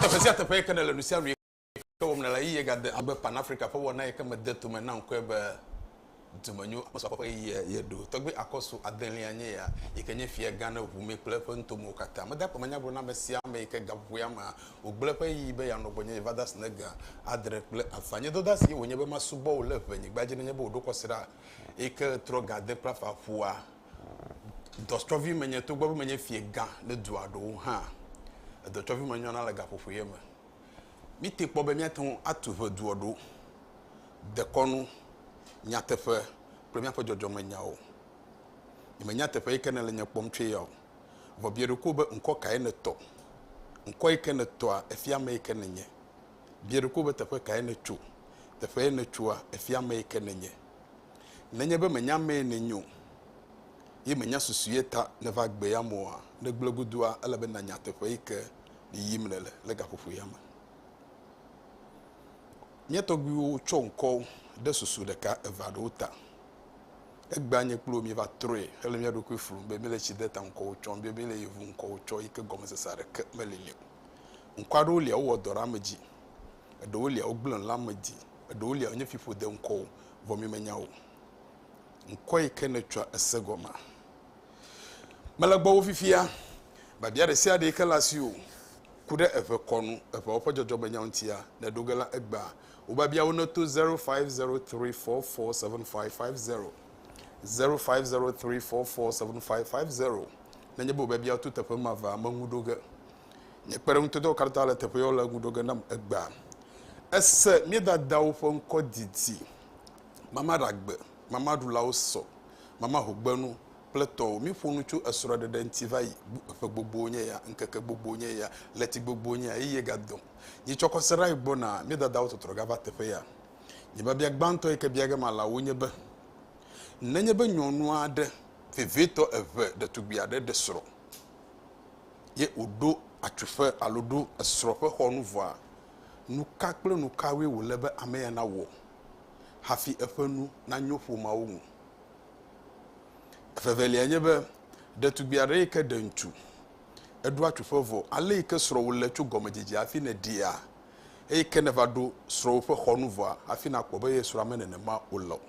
Teƒe sia teƒe yeke nèle nu sia nu yeke wɔm nèle eye gade agbe Pan Afrika ƒe wɔna yeke mede tome na ŋkɔe be dumenyo akpɔsɔ ƒe ɣeyiɣia ye ɖo. Tɔgbui Akɔsu adelia nye ya yike nye fiagã ɖe ʋu me kple eƒe nutomewo katã. Meda akpamanyagblɔname sia ame yike gaƒoƒoea mea Wògblẽ eƒe ɣeyiɣi be yeanɔ gbɔnye va dasi ne ge adre kple afã. Nye dɔdasie wònye be masubɔ wò le ʋenyigba dzi nenye be wòɖo kɔsiɖa eyi ke ɣetrɔ ga ade kple afã ƒua. Dɔtsɔvi menye togbɔ be menye fiegã le dua ɖewo hã. Edɔtsɔvi menyɔna le gaƒoƒo ye me. Míte kpɔ be míate ŋu atu ʋe dua ɖo, dekɔnu, nyateƒe kple míaƒe dzɔdzɔmenyawo. Nyemenya teƒe yi ke nèle nye kpɔm tsoe ya o. Vɔ biɔ ɖokuiwò be, Ŋkɔ kae nètɔ? Ŋkɔ yi ke nètɔa, efia ame yi ke nènye. Biɔ ɖokuiwò be, Teƒe kae nètso? Teƒe ye nètsoa, efia ame yi ke nènye. Nenye be mènya ame yi nènye o, ye mènya susu ye ta nèva gbe ya me oa, ne gblẽ godua, ele be nànya teƒe yi ke yiyim nèle le gaƒoƒo ya me. Mía tɔgbuiwo tsɔ ŋkɔwo ɖe susu ɖeka, eve aɖewo ta. Egbea nye kple wò míeva trɔe hele mía ɖokui flum be míele tsi de ta ŋkɔwò tsɔm be míele yevu ŋkɔwò tsɔ yi ke gɔmesese aɖeke meli nɛ o. Ŋkɔ aɖewo lia wowɔ dɔ ɖe ame dzi, eɖewo lia wogblẽ le ame dzi, eɖewo lia wonye fiƒode ŋkɔwò, vɔ mímenya wò ŋkɔ yi ke nètsɔa ese gɔmea. Mele gbɔwò fifia, biabia ɖe sia ɖe yi ke le asiwò, ku ɖe eʋe kɔ nu, eʋeawo ƒe dzɔdzɔmenyawo ŋutia, nèɖo ge la, egbea Wò biabiawo neto zero five zero three four four seven five five zero zero five zero three four four seven five five zero. Nenye be wò biabiawo to teƒe ma va me ŋu ɖo ge. Nye kpeɖeŋutɔdɔwo katã le teƒe yewo le ŋu ɖo ge nam egbea. Ese mía dadawo ƒe ŋkɔ didi. Mama ɖagbe, mama ɖulawo sɔ, mama ho gbenu, kple tɔwò míƒo nu tso esrɔ̃ɖeɖe ŋuti va yi. Ƒe gbogbowo nye ya, ŋkeke gbogbowo nye ya, ɣleti gbogbowo nye ya, ɣeyiɣie gadedɔ o. Nye tsɔkɔ srã yi gbɔ na mía dadawo tɔtrɔ gava teƒe ya. Nye biabia gbãtɔ yi ke bia ge mala wò nye be, Nenye be nyɔnu aɖe, vevietɔ eve, ɖetugbui aɖe ɖe srɔ̃ ye wòɖo atsuƒe alo ɖo esrɔ̃ ƒe xɔ nu vɔa, nuka kple nukawoe wòle be ame ya nawɔ hafi eƒe nu nanyo ƒomeawo ŋu? Evevelia nye be, ɖetugbui aɖe yi ke ɖe ŋutsu, eɖo atsuƒe vɔ, ale yi ke srɔ̃wò le tso gɔmedzedzea hafi nèɖia, eyi ke nèva ɖo srɔ̃wò ƒe xɔnu vɔa, hafi nàkpɔ be ye srɔ̃a me nenema o la o.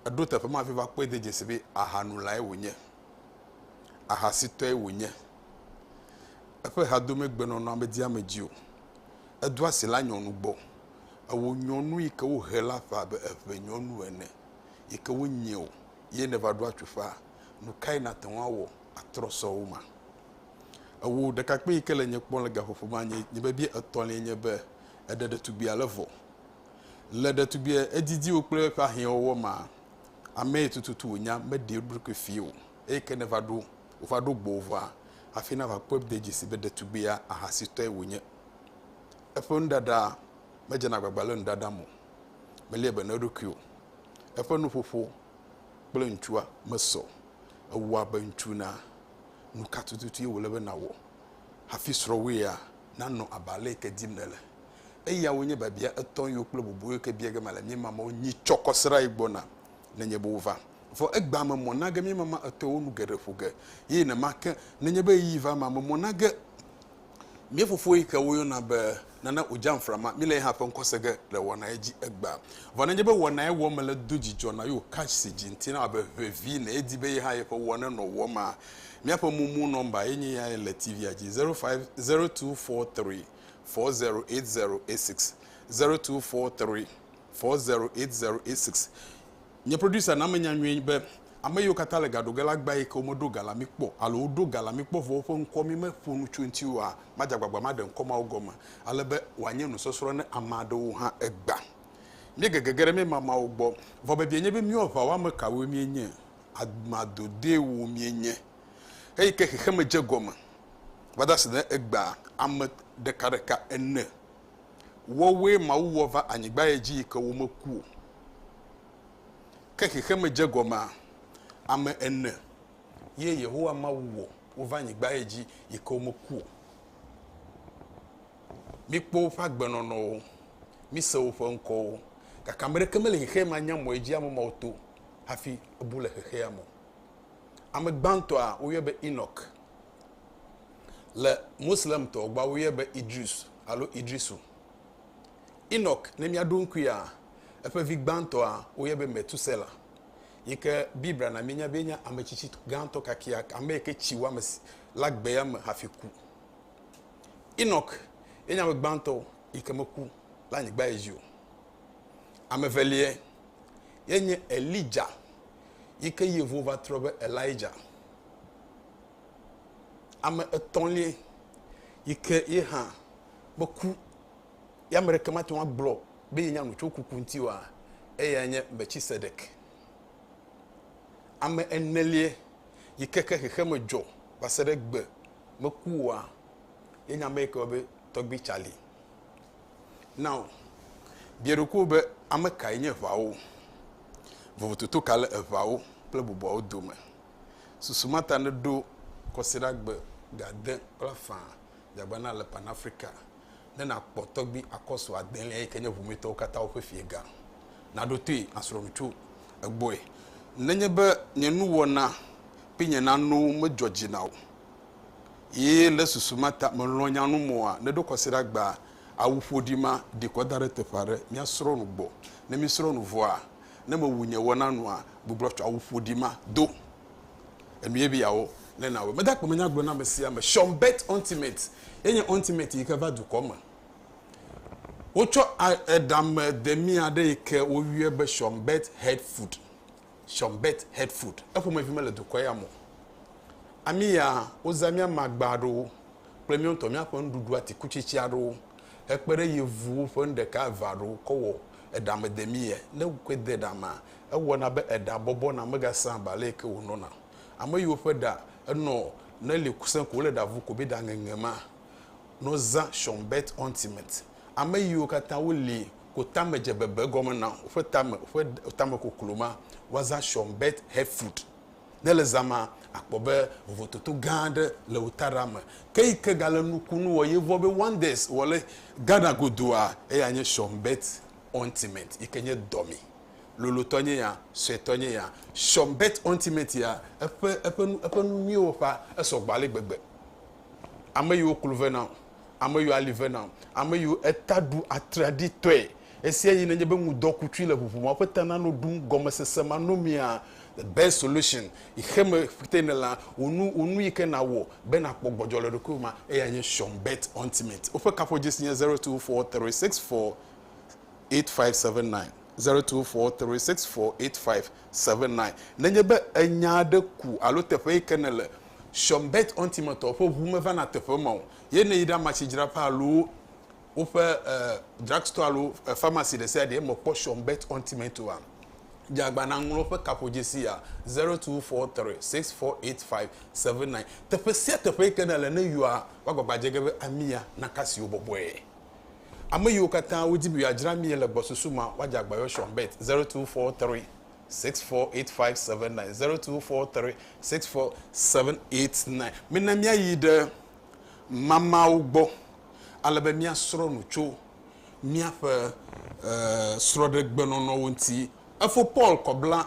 Èɖo teƒe ma hafi va kpɔe de dzesi be ahanulae wònye, ahasitɔe wònye. Eƒe ha do megbenɔnɔa medi ame dzi o. Edo asi la nyɔnu gbɔ. Ewɔ nyɔnu yi ke wohe la ƒã abe eŋenyɔnu ene. yi ke wonye o ye nèva ɖo atsuƒea, nu kae nàte ŋu awɔ atrɔ sɔ wo ma? Ewò ɖekakpui yi ke le nye kpɔm le gaƒoƒo ma, nye nye biabia etɔ̃liae nye be, Èɖe ɖetugbi ale vɔ? Le ɖetugbia edidiwo kple eƒe ahiãwɔwɔ ma amee tututu wònya meɖi eɖokui fii o. Eyi ke nèva ɖo wòva ɖo gbɔwòvɔa, hafi nàva kpɔe de dzesi be ɖetugbia ahasitɔe wònye. Eƒe nuɖaɖa medzena agbagba le nu ɖaɖam o. melia be na eɖokui o. Eƒe nuƒoƒo kple ŋutsua mesɔ o. Ewɔ abe ŋutsu na. Nuka tututu ye wòle be nàwɔ hafi srɔ̃wòea nanɔ abe ale yi ke dim nèle? Eyawo nye biabia etɔ̃ yiwo kple bubuwo yi ke bia ge mele míema mɔ nyi tsɔ kɔ srãe gbɔ na nenye be wova. Vɔ egbea me mɔ na ge míema ma etɔ̃wo nu geɖe ƒo ge. Ye nenema ke, nenye be ɣeyiɣi va emea me mɔ na ge. Mía fofo yi ke woyɔna be Nana Ojamfra ma, míle ye hã ƒe ŋkɔse ge le wɔnae dzi egbea. Vɔ nenye be wɔnae wɔm mele do dzidzɔ na Yo Cash si dzi ŋuti nawɔ abe ʋevi ne edi be ye hã yeƒe wɔ nenɔ wɔm maa, míaƒe mumu nɔmba ye nye yae le TV-a dzi, 05024340806, 024340806. Nye producer na menya nyuie be ame yiwo katã le ga ɖo ge la gbã yi ke womeɖo ga la mi kpɔ alo woɖo ga la mi kpɔ vɔ woƒe ŋkɔ mi me ƒo nu tso eŋuti oa, madze agbagba maɖe ŋkɔ mawo gɔme ale be wòanye nusɔsrɔ̃ ne ame aɖewo hã egbã. Míege gege ɖe míema mawo gbɔ. Vɔ bebie nye be míewo aʋawɔame kawoe míenye, amadodɛwo míenye. Eyi ke xexeme dze gɔme va da se ɖe egbea, ame ɖekaɖeka ene Woawoe Mawu wɔ va anyigbae dzi yi ke womeku o. Ke xexeme dze gɔmea? Ame ene ye Yehowa Mawu wɔ wova anyigbae dzi yi ke womeku o. Míkpɔ woƒe agbenɔnɔwo, míse woƒe ŋkɔwo, gake ame aɖeke mele xexea me anya mɔ yi dzi ame mawo to hafi bu le xexea me o. Ame gbãtɔa, woyɔe be Enɔk. Le Moslemtɔ gbɔa woyɔe be Idris alo Idrisu. Enɔk, ne míaɖo ŋkuia, eƒe vi gbãtɔa woyɔe be Metusela yi ke Biblia na míenya be enye ame tsitsi gãtɔ kakeak, ame yi ke tsi wɔ ame le agbea me hafi ku. Enɔk enye ame gbãtɔ yi ke meku le anyigba dzi o. Ame eveliae nye Elija yi ke Yevu va trɔ be Elija. Ame etɔ̃liae yi ke ye hã meku. Ye ame ɖeke mate ŋu agblɔ be yenya nu tso kuku ŋuti oa? Eyae nye Melchizedek. Ame eneliae yi ke ke xexeme dzɔ va se ɖe egbe meku oa? Yenye ame yi ke woyɔna be Tɔgbui Charlie. Now, bia ɖokuiwò be ame kae nye eŋawo? Vovototo ka le eŋawo kple bubuawo dome? Susu ma ta neɖo kɔsiɖagbe gade kple afã dzeagba na le Pan-Afrika ne nàkpɔ tɔgbi akɔsu adelia yi ke nye ʋumetɔwo katã woƒe fiega. Naɖo toe asrɔ̃ŋutsu egbɔe. Nenye be nye nuwɔna kple nye nanowo medzɔ dzi na wò ye le susu ma ta mèlɔ̃ nya num oa, neɖo kɔsiɖagbe awu ƒoɖi ma ɖi kɔ da ɖe teƒe aɖe. Míasrɔ̃ nu gbɔ. Ne míesrɔ̃ nu vɔa, ne mewu nye wɔna nua, gbublɔ tsɔ awu ƒoɖi ma do. Enue be yeawɔ ne nawɔe. Mede akpe me nya gblɔ na ame sia ame. Sean Bet Ultimate ye nye Ultimate yi ke va dukɔ me. Wotsɔ eɖame demi aɖe yi ke woyɔe be Sean Bet Head Food. Sean Bet Head Food. Eƒomevi mele dukɔ ya me o. Ami ya wozã mía magba aɖewo kple mía ŋutɔ míaƒe nuɖuɖu atikutsetse aɖewo hekpe ɖe yevuwo ƒe nu ɖeka eve aɖewo kɔ wɔ eɖame demi ye. Ne wokɔe de ɖamea Ewɔna be eɖa bɔbɔ na megasã ba le ke wonɔna. Ame yiwo ƒe ɖa enɔ ne li kusẽ ko wole ɖa vu ko be ɖa ŋeŋe ma nɔ zã Schönberg Ointment. Ame yiwo katã woli ko tame dze bebe gɔme na woƒe tame ƒe tame koklo ma woazã Schönberg Headfood. Ne le zã ma akpɔ be vovototo gã aɖe le wo taɖa me. Ke yi ke gale nukunu wɔ ye vɔ be wonders wɔ le Ghana godua eya nye Schönberg Ointment yi ke nye dɔme. lolotɔ nye ya, suetɔ nye ya, sɔm bet ɔntimɛti ya, eƒe, eƒe nu, eƒe nu nyuiwo ƒa, esɔ gbɔ ale gbegbe. Ame yiwo klo ve nam, ame yiwo ali ve nam, ame yiwo eta ɖu atraɖii tɔe, esia yi nenye be ŋudɔ ku tsui le ʋuʋu ma ƒe ta na no ɖum gɔmesese ma no mia, the best solution, yi xe me ƒte ne la, wò nu, wò nu yike nawɔ be nakpɔ gbɔdzɔ le ɖokuiwò ma, eyae nye sɔm bet ɔntimɛti. Woƒe kaƒodzesi nye zero two four three six four. 08085790234648579. Nenye be enya aɖe ku alo teƒe yi ke nèle, Shonbet Ontimetɔ ƒe ʋu mevana teƒe ma o, ye ne yi ɖe amatsidzraƒe alo woƒe drugstore alo pharmacy ɖesiaɖe me kpɔ Shonbet Ontimetoa, dze agbagba nàŋlɔ woƒe kaƒodzesi ya, 02436485779. Teƒe sia teƒe yi ke nèle, ne yɔa, woagbagba adze ge be ami ya naka asi wò bɔbɔe. Ame yiwo katã wodi be yewoadzra mie le gbɔsusu ma, woadze agbayɔ Sean Bett, zero two four three six four eight five seven nine, zero two four three six four seven eight nine. Mina míayi ɖe mamaawo gbɔ ale be míasrɔ̃ nu tso míaƒe srɔ̃ɖegbenɔnɔwo ŋuti. Efo Paul kɔ bla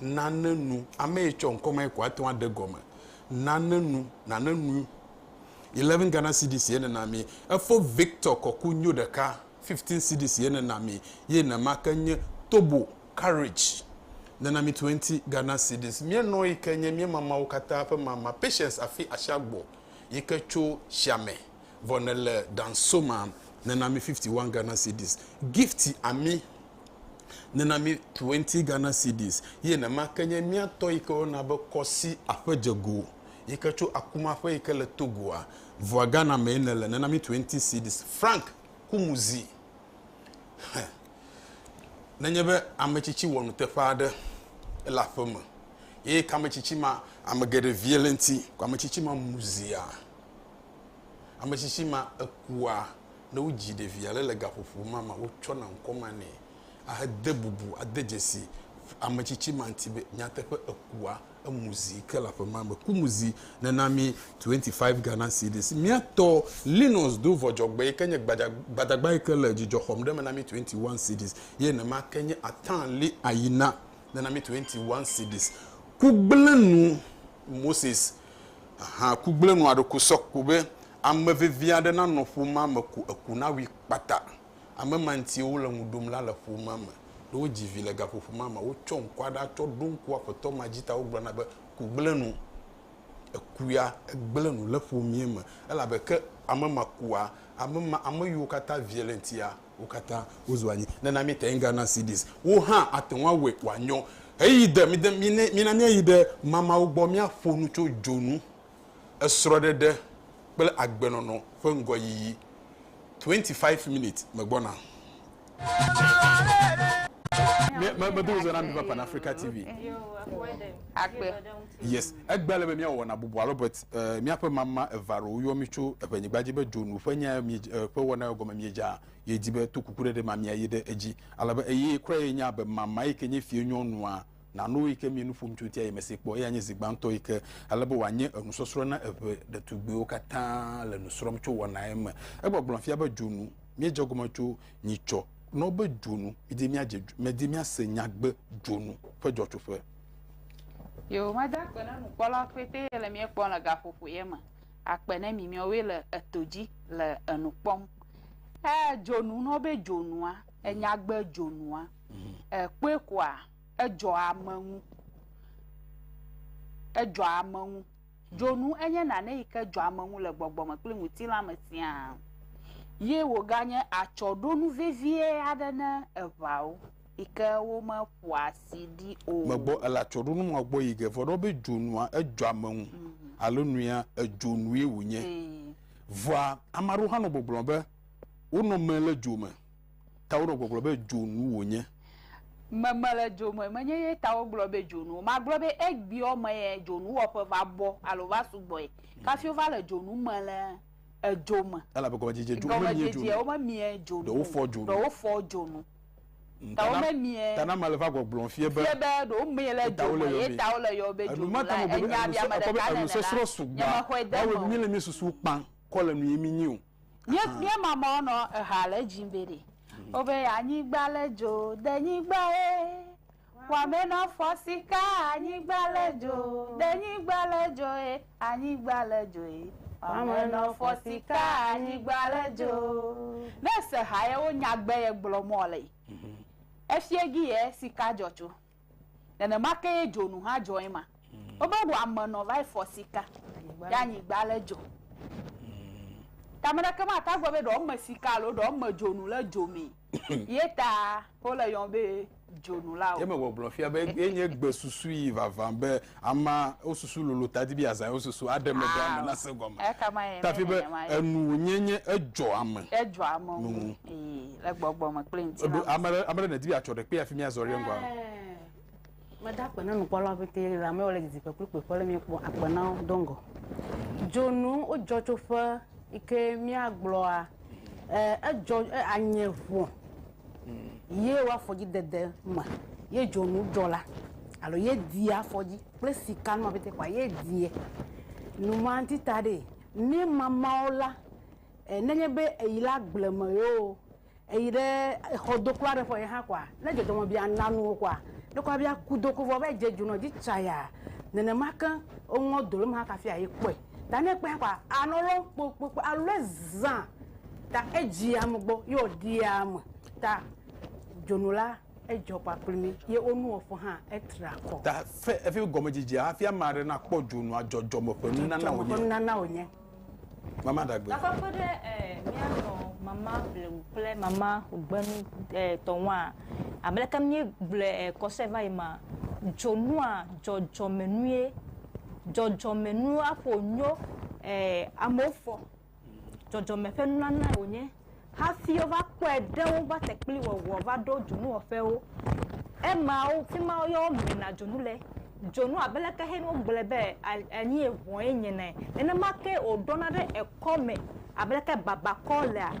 Nane nu. Ame yi tsɔ ŋkɔ ma yi ko ate ŋu aɖe gɔme. Nane nu. Nane nu. Eleven Ghana cedis ye nena mi. Efo Victor kɔku nyo ɖeka. Fifteen cedis ye nena mi. Ye nema ke nye Tobo Courage nena mi twenty Ghana cedis. Mía nɔ yi ke nye mía mamawo katã ƒe mama Patience Afi Ashiagbo yi ke tso Xiame vɔ nele Dansoma nena mi fifty one Ghana cedis. Gift Ami Nena mí twenty Ghana cedis ye nema ke nye mía tɔ yi ke woyɔna be Kɔsi aƒedzego yi ke tso Akuma ƒe yi ke le Togoa. Vɔa Ghana mee nèle, nena mí twenty cedis. Frank Kumuzi, Xe, nenye be ame tsitsi wɔ nuteƒe aɖe, ele aƒe me eye ke ame tsitsi ma, ame geɖe vie le eŋuti, ko ame tsitsi ma mu zia, ame tsitsi ma ekua, Ne wodzi ɖevi aɖe le gaƒoƒo ma me, wotsɔna ŋkɔ ma nɛ ahede bubu, ade dzesi ame tsitsi ma ŋuti be nyateƒe ekua emu zi ke le aƒe ma me. Ku mu zi nena mí 25 Ghana cedis. Mía tɔ, Linus do vɔ dzɔgbe yi ke nye gbadagba yi ke le dzidzɔ xɔm ɖe eme na mí 21 cedis ye nenema ke nye Atanli Ayina nena mí 21 cedis. Ku gblẽ nu, Moses Hã ku gblẽ nɔa ɖe ku sɔ kpo be ame vevi aɖe nanɔ ƒomea me ko eku nawui kpata. Ame ma ŋutie wole ŋu ɖom la le ƒomea me. Ne wodzi vi le gaƒoƒo ma mea, wotsɔ ŋku aɖe atsɔ ɖo ŋku Aƒetɔ ma dzi ta wogblɔna be, Ku gblẽ nu. Eku ya gblẽ nu le ƒomea me elabe ke ame ma kua, ame ma, ame yiwo katã vie le eŋutia, Wo katã wozu anyi. Nena míete ŋu ana CDs wo hã ate ŋu awɔe wòanyo. Ɣeyiɣi de, mide, mine, mina míayi ɖe Mamawo gbɔ míaƒo nu tso dzonu, esrɔ̃ɖeɖe kple agbenɔnɔ ƒe ŋgɔyiyi. Twenty five minutes, megbɔna. Yes, egbe ale be míawɔ nabubu alo be e, míaƒe mama eve alo woyɔ mí tso eƒenyigba dzi be dzonu ƒe nyae mie, e, ƒe wɔnae gɔme miedzea, ye di be to kuku ɖeɖe ma miayi ɖe edzi. Ale be eye kura ye nya be mama yi ke nye fie nyɔnua nano yi ke mie nu ƒom tso ŋutia ye mese kpɔ, eya nye zi gbãtɔ yi ke ale be wòanye enusɔsrɔ̃ na eƒe ɖetugbiwo katã le nu srɔ̃m tso wɔnae me. Egbɔgblɔ fia be dzonu miedze egɔme tso nyitsɔ nɔ be dzonu midi miadze, medi miase nyagbe dzonu ƒe dzɔtsoƒe. Yewomada akpe na nukpɔlawo pɛtɛ le mía kpɔm le gaƒoƒo ye me. Akpe ne mi miawoe le eto dzi le enu kpɔm. E dzonu na wo be dzonua, enyagbe dzonua, èkpɔe koa, edzɔ ame ŋu. Edzɔ ame ŋu. Dzonu enye nane yi ke dzɔ ame ŋu le gbɔgbɔ me kple ŋutilã me siaa. Ye wòganye atsɔɖonu vevie aɖe na eŋawo. yi ke womeƒoa asi ɖi o. Megbɔ ele atsɔɖonu ma gbɔ yi ge vɔ ɖɔ be dzonua edzɔ ame ŋu alo nuya edzonue wònye. Vɔa ame aɖewo hã nɔ gbɔgblɔ be wonɔ me le dzo me ta wonɔ gbɔgblɔ be dzonu wònye. Me mele dzo me menye ye ta wogblɔ be dzonu. Magblɔ be egbeɔ me ye dzonuwɔƒe va bɔ alo va sugbɔe kafi wova le dzonu me le edzo me. Elabe gɔmedzedze dzonu memie dzonu o. Gɔmedzedzeawo memie dzonu o. Ɖe wofɔ dzonu. Ta wo me mie. Ta na mele va gbɔgblɔm fie be. Fie be ɖo mie le dzo me ye ta wo le yɔ be dzo me la enya bia me ɖeka nene la. Nye me xɔe de me o. Mi le mi susu kpa kɔ le nu ye mi nyi o. Mie mie mama wo nɔ eha le dzi be ɖe. Wo be anyigba le dzo de nyigba ye. Wame nɔ fɔ sika anyigba le dzo ɖe nyigba le dzo e anyigba le dzo e wame nɔ fɔ sika anyigba le dzo. Ne ese ha ye wo nya gbe ye gblɔ mɔ le yi efie gi ye sika dzɔ tso nenema ke ye dzonu hã dzɔ ye ma wo be wame nɔ va yi fɔ sika ye anyigba le dzo ta meɖe ke ma ta gbe be ɖewo me sika alo ɖewo me dzonu le dzo mee. Ye ta wole yɔm be dzonulawo. Ye megbɔgblɔ fia be ye nye gbe susu yi vavã be ama wo susu lolo ta di be yeazã yewo susu aɖe me ɖe ame nase gɔme. Ekama ye tafi be enu wònye nye edzɔ ame. Edzɔ ame ŋu le gbɔgbɔ me kple ŋutilã me. Ame ɖe ame ɖe nèdi be yeatsɔ ɖe kpe hafi míazɔ ɖe eŋgɔa? Meda akpe na nukpɔlawo pete le ame wole didiƒe kple kpekpe le miekpɔ akpe na wo do ŋgɔ. Dzonu wodzɔ tso ƒe ike miagblɔa edzɔ anye ʋɔ ye wo afɔdzi dede me ye dzonu dzɔ la alo ye die afɔdzi kple sika numa pete kɔa ye die numa ŋuti ta ɖe mi mamawo la nenye be eyi la gbleme yoo. Eyi ɖe exɔ do kura ɖe ƒe ye hã kɔa, ne dzɔdzɔme bia na nu wo kɔa, ne kɔa bia ku do ko vɔ va yi dze dzu nɔ dzi tsaya. Nenema ke wo ŋɔ do le ma kafi a yi kpɔe. Ta ne kpɔe hã kɔa, a nɔ lɔn kpokpokpo a lɔe zã. Ta edzi ame gbɔ ye wo ɖia ame. Ta dzonu la edzɔ kpa kpli mi ye wo nu wɔƒe hã etra kɔ. Ta fe efi gɔme dzidzia hafi ame aɖe na kpɔ dzonua dzɔdzɔme ƒe nunana wonye. Mama ɖagbe. Gakpɔ kpe ɖe míanɔ mama blewu kple mama gbenu tɔ ŋua, abe leke míegblɔe kɔse va yi ma, dzonua dzɔdzɔmenue, dzɔdzɔmenua ƒo nyo amewo fɔ, dzɔdzɔme ƒe nunanae wònye. Hafi wova kpɔe ɖe wo va te kpli wɔwɔ va ɖo dzonuwɔƒewo. Ema wo, fi ma yɔ wo mena dzonu le. Dzonu abe leke he no gblɔe be anyi eŋɔ ye nye ne, nenema ke wo ɖɔna ɖe ekɔ me abe leke baba kɔ lea,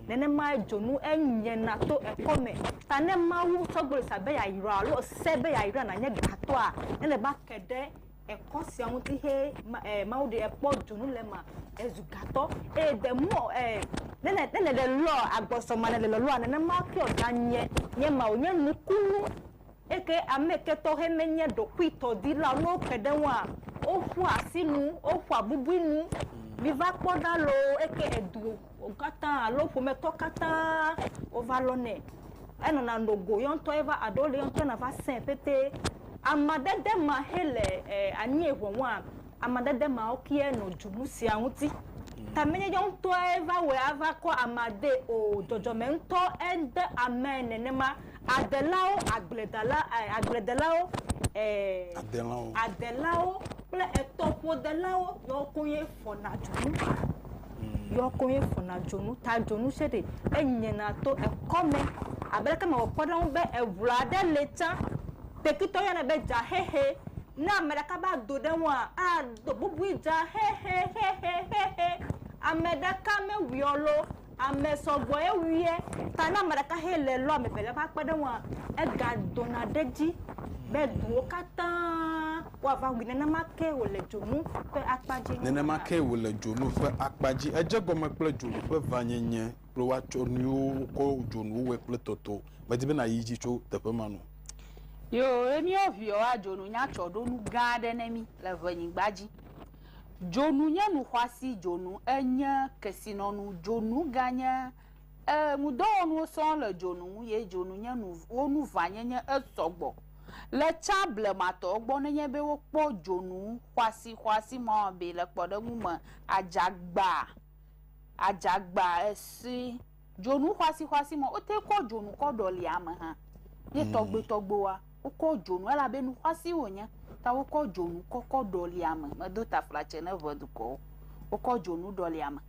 nenema dzonu enye na to ekɔ me. Ta ne Mawu tsɔ gbɔlisa be ya yra alo se be ya yra na nye gatɔa, ele va ke ɖe Ekɔ sia ŋuti he ma eh, Mawu ɖe ekpɔ dzonu le ma ezu gatɔ eye de mɔ eh, ne ne ne le lɔ agbɔsɔ ma ne le lɔlɔ nenema ke ɔda nye nye ma wònye nukunu eke ame ke tɔxɛ menye ɖokuitɔ di la ne woke ɖe ŋua woƒu asi nu woƒu abubui nu miva kpɔ ɖa loo eke edu wo katã alo ƒometɔ katã wova lɔ nɛ. Enɔna no go yɔ ŋutɔ ye va aɖewo le yɔ ŋutɔ na va sɛ̃ pɛtɛ. Amadede ma xe le e anyi eŋe wɔa, amadede ma wo ke nɔ dzu nu sia ŋuti. Ta menye yɔ ŋutɔe va wɔe ava kɔ amea de o. Dzɔdzɔme ŋutɔ ede amea nenema. Adelawo, agbledala e agbledelawo e adelawo kple etɔƒodelawo yɔ koŋ ye. fɔna dzonu mm. yɔ ko ye fɔna dzonu ta dzonu se ɖe enyena to ekɔme abe leke mewɔ kpɔɖeŋu be eŋu aɖe le tsã tekitɔ yɔnɛ be dzaxexe ne ame ɖeka va do ɖe ŋua ado bubui dzaxexexexexe ame ɖeka mewuiɔ lo Ame sɔgbɔe wuiɛ. Ta ne ame ɖeka hɛ le lɔ ame evelia ƒe akpe ɖe ŋua, ega dona ɖe edzi be duwo katã woava wui. Nenema ke wòle dzonu ƒe akpa dzi. Nenema ke wòle dzonu ƒe akpa dzi. Edze egɔme kple dzonu ƒe vanyenye kple woatsɔ nuyiwo wokɔ dzonuwo wɔe kple tɔtɔ. Medi be nàyi edzi tso teƒe ma nu. Yoo, ne míewɔ ʋiɔ, adzonu nya tsɔ ɖo nu gã aɖe ne mí le ŋɛnyigba dzi. Dzonu nye nu xɔasi dzonu enye kesinɔnu dzonu ganye e nudɔwɔnuwo sɔŋ le dzonu ŋu ye dzonu nye nu wo nu vanyenye esɔgbɔ le tsã blematɔwo gbɔ nenye be wokpɔ dzonu xɔasi xɔasi ma be le kpɔɖeŋu me adzagba adzagba esi Dzonu xɔasixɔasi mɔ wote kɔ dzonu kɔ ɖɔli ame hã. Ye tɔgbuitɔgbuiwoa, wokɔ dzonu elabe nu xɔasi wònye ta wokɔ dzonu kɔ kɔ ɖɔli ame. Medo taflatse ne ŋe dukɔwo. Wokɔ dzonu ɖɔli ame.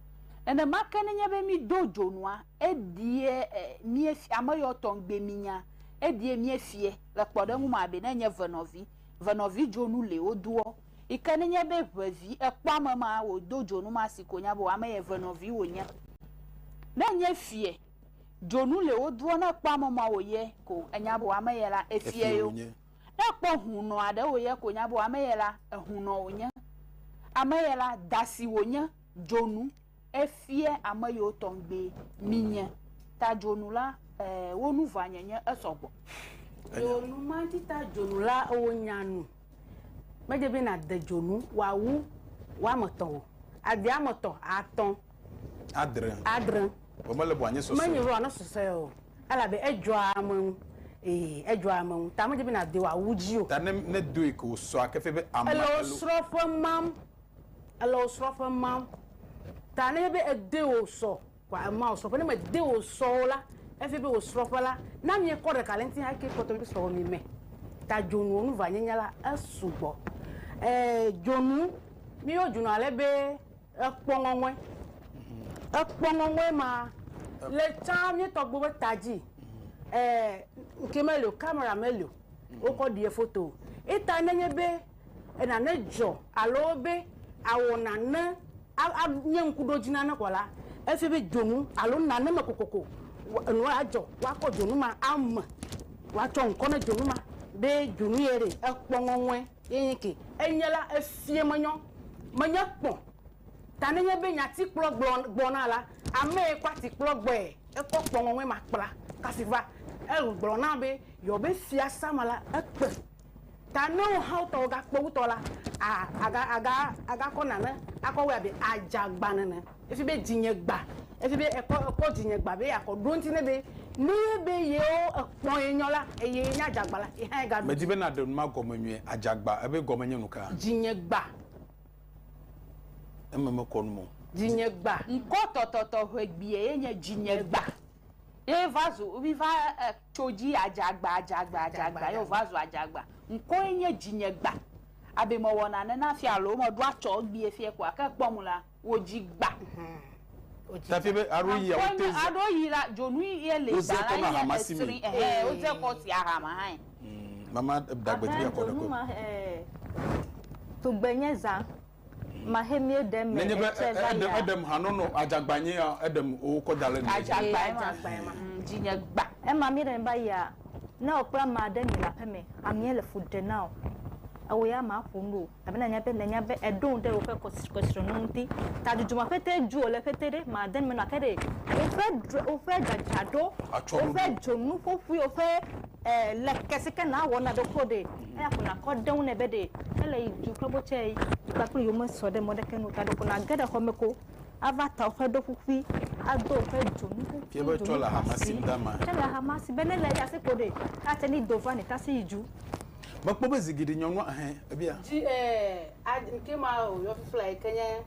Nenema ke ne nye be mído dzonua, eɖie e míefi ameyɔtɔ ŋgbe mínya. Eɖie míefiɛ. Le kpɔɖeŋu mea be ne enye venɔvi, venɔvi dzonu li wodoɔ yi ke ne nye be ʋe vi ekpɔ ame ma wòdo dzonu ma si ko nya be ame yɛ ʋe nɔvi wònye. Ne nye fiɛ dzonu le wodoɔ ne ekpɔ ame ma wòyɛ ko enya be ame yɛ la efiɛ yo. Ne ekpɔ hunɔ aɖe wòyɛ ko nya be ame yɛ la ehunɔ wònye. Ame yɛ la da si wònye dzonu. Efia ame yiwo tɔgbi minye. Ta dzonu la, ɛɛ, wo nu vua nye nye esɔ gbɔ. Eo nu ma dzi ta dzonu la, eo nya nu. Medze be na de dzonu wa wu wa me tɔ o. A de ame tɔ, a tɔ. A dre. A dre. Vɔ mele be wa nye sɔsɔe. Menye be wa ne sɔsɔe o. Elabe edzɔa ame ŋu. Ee, edzɔa ame ŋu. Ta medze be na de wa wu dzi o. Ta ne, ne doe ke wo sɔa ke fe be ame elo. Ele wo srɔƒe mam. Ele wò srɔ̃ƒe mam. Ta nenye be ède wò sɔ kɔa, ema wò srɔ̃ƒe. Ne mède wò sɔ o la, efia be wò srɔ̃ƒe la, ne amee kɔ ɖeka le eŋuti hã, ekee kpɔtɔ be srɔ̃wò meme. Ta dzonuwo nu vanyenya la, esugbɔ. Ee, dzonu, míyɔ dzonu ale be ekpɔ ŋɔŋɔe. Ekpɔ ŋɔŋɔe ma le tsã mía tɔgbuiwo ƒe ta dzi. Ee, ŋkee meli o, kamera meli o, wokɔ ɖie foto o. Ye ta nenye be. nane dzɔ alo be awɔ nane anye ŋkuɖodzi na ne kɔ la, efia be dzonu alo nane me kokoko nua adzɔ woakɔ dzonu ma ame woatsɔ ŋkɔ ne dzonu ma be dzonu ye ɖe ekpɔ ŋɔŋɔe ye nye ke enye la efia menyɔ menye kpɔ ta ne nye be nya ti kplɔ gblɔ gbɔna la ame ye kɔ ati kplɔ gbɔe ekɔ kpɔ ŋɔŋɔe ma kpla kasi va egblɔ na be yɔ be fiasa me la ekpe. Ta ne wohawo tɔwo gakpe wutɔ la, a, aga, aga, agakɔ nane akɔ wɛ abe adzagba nene. Efi be dzinye gba. Efi be ekɔ, ekɔ dzinye gba be yeakɔ ɖo ŋuti ne be, ne ye be yewo ekpɔ ye nyɔ la, eye ye nye adzagba la, ye hã ye gaɖo Medi be naɖe nu ma gɔme nyuie. Adzagba, ebe gɔme nye nuka? Dzinye gba. Eme mekɔ nu me o. Dzinye gba. Ŋkɔ tɔtɔtɔ ʋegbie ye nye dzinye gba. Ye va zu, mi va, e. tso dzi adzagba, adzagba, adzagba ye wòva zu adzagba. Ŋkɔe nye dzinyegba. Abe mewɔna nena fia alo meɖo atsɔ egbee fiɛ koa, ke ekpɔ ŋu la, wòdzi gba. Tafi be aɖo yi awo te za. Aɖo yi la, dzonu ye le gba la nye esri. Ɛhɛɛ, wodze kɔ si ahama hãe. Mama ɖagbevi ya kɔ ɖe kɔ. Ahɛɛ, dzonu ma ɛɛ, tugbe nye zã. Maxe mie ɖem me Nenye be etsɛ va eɖem ya. eɖem hanɔnɔ adzagba nye ya eɖem wokɔ da ɖe mia dzi. Adzagba Ee, ema. adzagba ema. Mm, dzinye gba. Ema mie ɖem va ya. Ne wò kple ame aɖe mi le aƒe me, amea le fu ɖe na wò, ewò ya màƒo nu o abe nanya be nanya be eɖo ŋu ɖe woƒe kɔs kɔsrɔ̃nu ŋuti. Ta dudzu ma ƒete dzu wòle ƒete ɖe made nu me na ke ɖe woƒe dr woƒe dzadzraɖo, Atsyɔ̃ɖoɖo. woƒe dzonuƒoƒui, woƒe e leke si ke nawɔ na ɖokui wò ɖe. eya ko nakɔ ɖe eŋu nɛ be ɖe ele yi du kple botsɛ yi kpakple yewo mesɔ ɖe mɔ ɖeke nu o ta ɖeko nage ɖe xɔ me ko ava ta woƒe ɖoƒuƒui ado woƒe dzonu ƒuƒui dzonu xɔasi ke le hamasi be ne le eya si ko ɖe ate ne do va ne ta si yi du. Mekpɔ be zi geɖe nyɔnua ehɛ ebia. Dzi ɛɛ nke ma o yɔ fifla yi ke nye.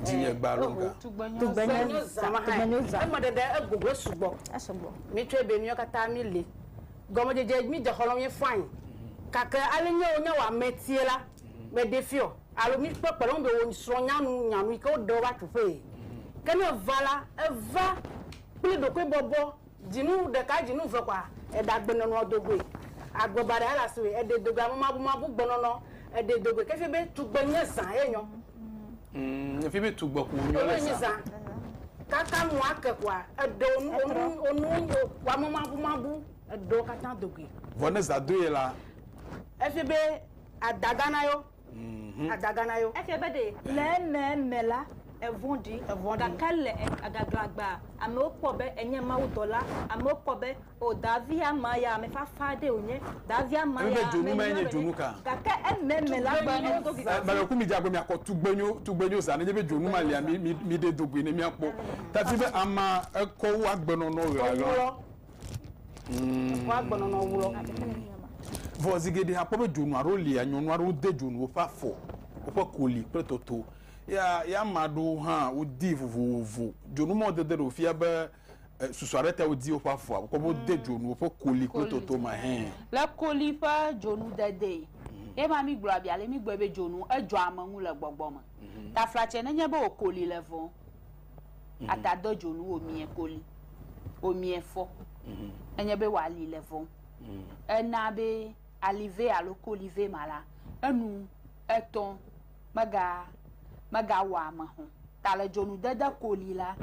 Dzi nye gba alo ga. Tugbenyo za. Tugbenyo za. Tugbenyo za. Eme ɖeɖe egogo esugbɔ. Esugbɔ. Mi tsɔe be mi yɔ katã mi li. Gɔmedzedze mi de xɔlɔm ye fãi. Gake ale nyewo nye wame tie la, me ɖe fiɔ, alo mi kpe kpɔɖeŋu be wo srɔ̃ nya nu nya nu yi ke wo ɖe wo va tso ƒee. Ke ne eva la, eva kple ɖokui bɔbɔ, dzinu ɖeka, dzinu ve kɔa, eɖe agbe nɔnɔ do goe. Agbe baɖa ya le asiwòe, eɖe do goe, ame mabu mabu gbe nɔnɔ, eɖe do goe. Ke efie be tugbe nye zã ye nyɔ. Mm, efi be tugbɔ ko nyɔ le sa. Kaka nu ake kwa edo onu onu onu wa mo mabu mabu edo kata dogi. Vɔ ne za do ye la. Efi be adagana yo. Mhm. Adagana yo. Efi be de le me me la evɔn di. Evɔn di. Kaka le agaglagba amewo kpɔ be enye mawu dɔla amewo kpɔ be O davi ama ya ame fafa aɖe wònye. Davi ama ya ame nyui aɖe wònye. Gake ememe la gblɔ nɛ do viviti. Mele ku midze agbe miakɔ tugbenyo tugbenyo za nenye be dzonu ma lia mi mi ɖe do goe ne miakpɔ. Tadi be ama ekɔ wu agbenɔnɔ ɣeaɣla. Ekɔ agbenɔnɔ wu lɔ. Vɔ zi geɖe akpɔ be dzonu aɖewo lia nyɔnu aɖewo de dzonu woƒe afɔ, woƒe koli kple tɔto. Ye ama aɖewo hã wodi vovovo. Dzonu ma wodede ɖe wofia be. eh, susu aɖe te wodi woƒe afɔa wokɔ wode mm. dzonu woƒe koli kple toto me hɛ le koli ƒe dzonu dedee mm. ye ma mi gblɔ abia le mi gbɔe be dzonu edzɔ ame ŋu le gbɔgbɔ me mm-hmm. taflatsɛ nenye be wò koli le vɔ mm-hmm. ata de dzonu wò mie koli wò mie fɔ mm-hmm. enye be wà li le vɔ mm. ena be alive alo kolive ma la enu etɔn mega megawɔa ame hɔ̃ ta le dzonudede koli la,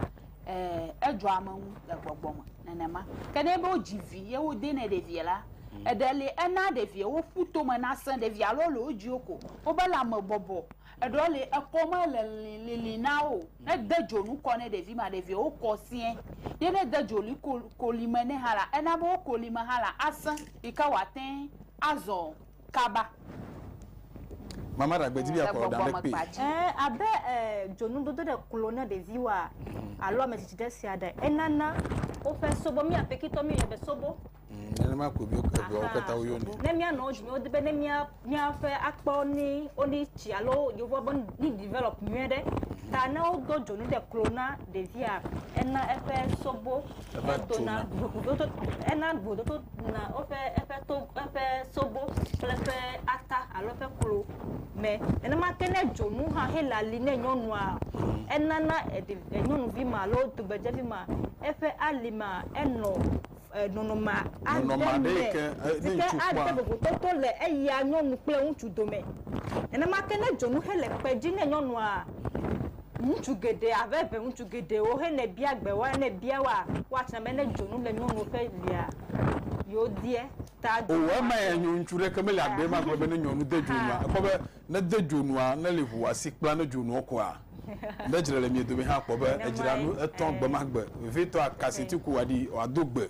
ẽ, edzɔa ame ŋu le gbɔgbɔ me nenema. Ke ne enye be wodzi vi ye wode nɛ ɖevia la, eɖe li ena ɖevia woƒu tome nasẽ ɖevia alo le wo dziwo ko wobe lãme bɔbɔ. Eɖewo li ekɔ mele lili lili na wo o. Ne ede dzonu kɔ ne ɖevi ma ɖevia wokɔ sɛ̃e. Ye ne ede dzonu koli me nɛ hã la ena be wo kolime hã la asẽ yike woate ŋu azɔ kaba. Mama ɖagbe dzi be yeaxɔ ɖa ɖe kpi. Ẽ, abe ẽ dzonudodo ɖe klo na ɖeviwoa alo ame tsitsi ɖe sia ɖe, enana woƒe sobo, mía Pekitɔ míeyɔnɛ be sobo. Mm, nenema ko mi eveawo katã woyɔnɛ. Ne míanɔ wo dzi, wodi be ne mía míaƒe akpɔ ni woni tsi alo yewoa be ni develop nyuie ɖe. Ta ne wodo dzonu ɖe klo na ɖevia, ena eƒe sobo Eva dona. Ena vovototo na woƒe eƒe to eƒe sobo kple eƒe ata alo eƒe klo me. Nenema ke ne dzonu hã hele ali ne nyɔnua enana nyɔnuvi ma alo tugbedzevi ma eƒe ali ma enɔ nɔnɔme aɖe me si ke ade vovototo le eya nyɔnu kple ŋutsu dome. Nenema ke ne dzonu hele kpe dzi ne nyɔnua Ŋutsu geɖe ava eve ŋutsu geɖewo hene bia gbe wa ne bia wa woatsna be ne dzonu le nyɔnu ƒe lia yewo deɛ ta dzonu. O ema ya nyo ŋutsu ɖeke mele agbe ma gblɔ be ne nyɔnu de dzonua ekɔ be ne de dzonua ne li ʋu wa si kpla ne dzonuɔ kɔa ne dzre le mie domi hã kpɔ be edzra nu etɔ gbe ma gbe vevitɔ akaseti ku wa ɖi wa do gbe.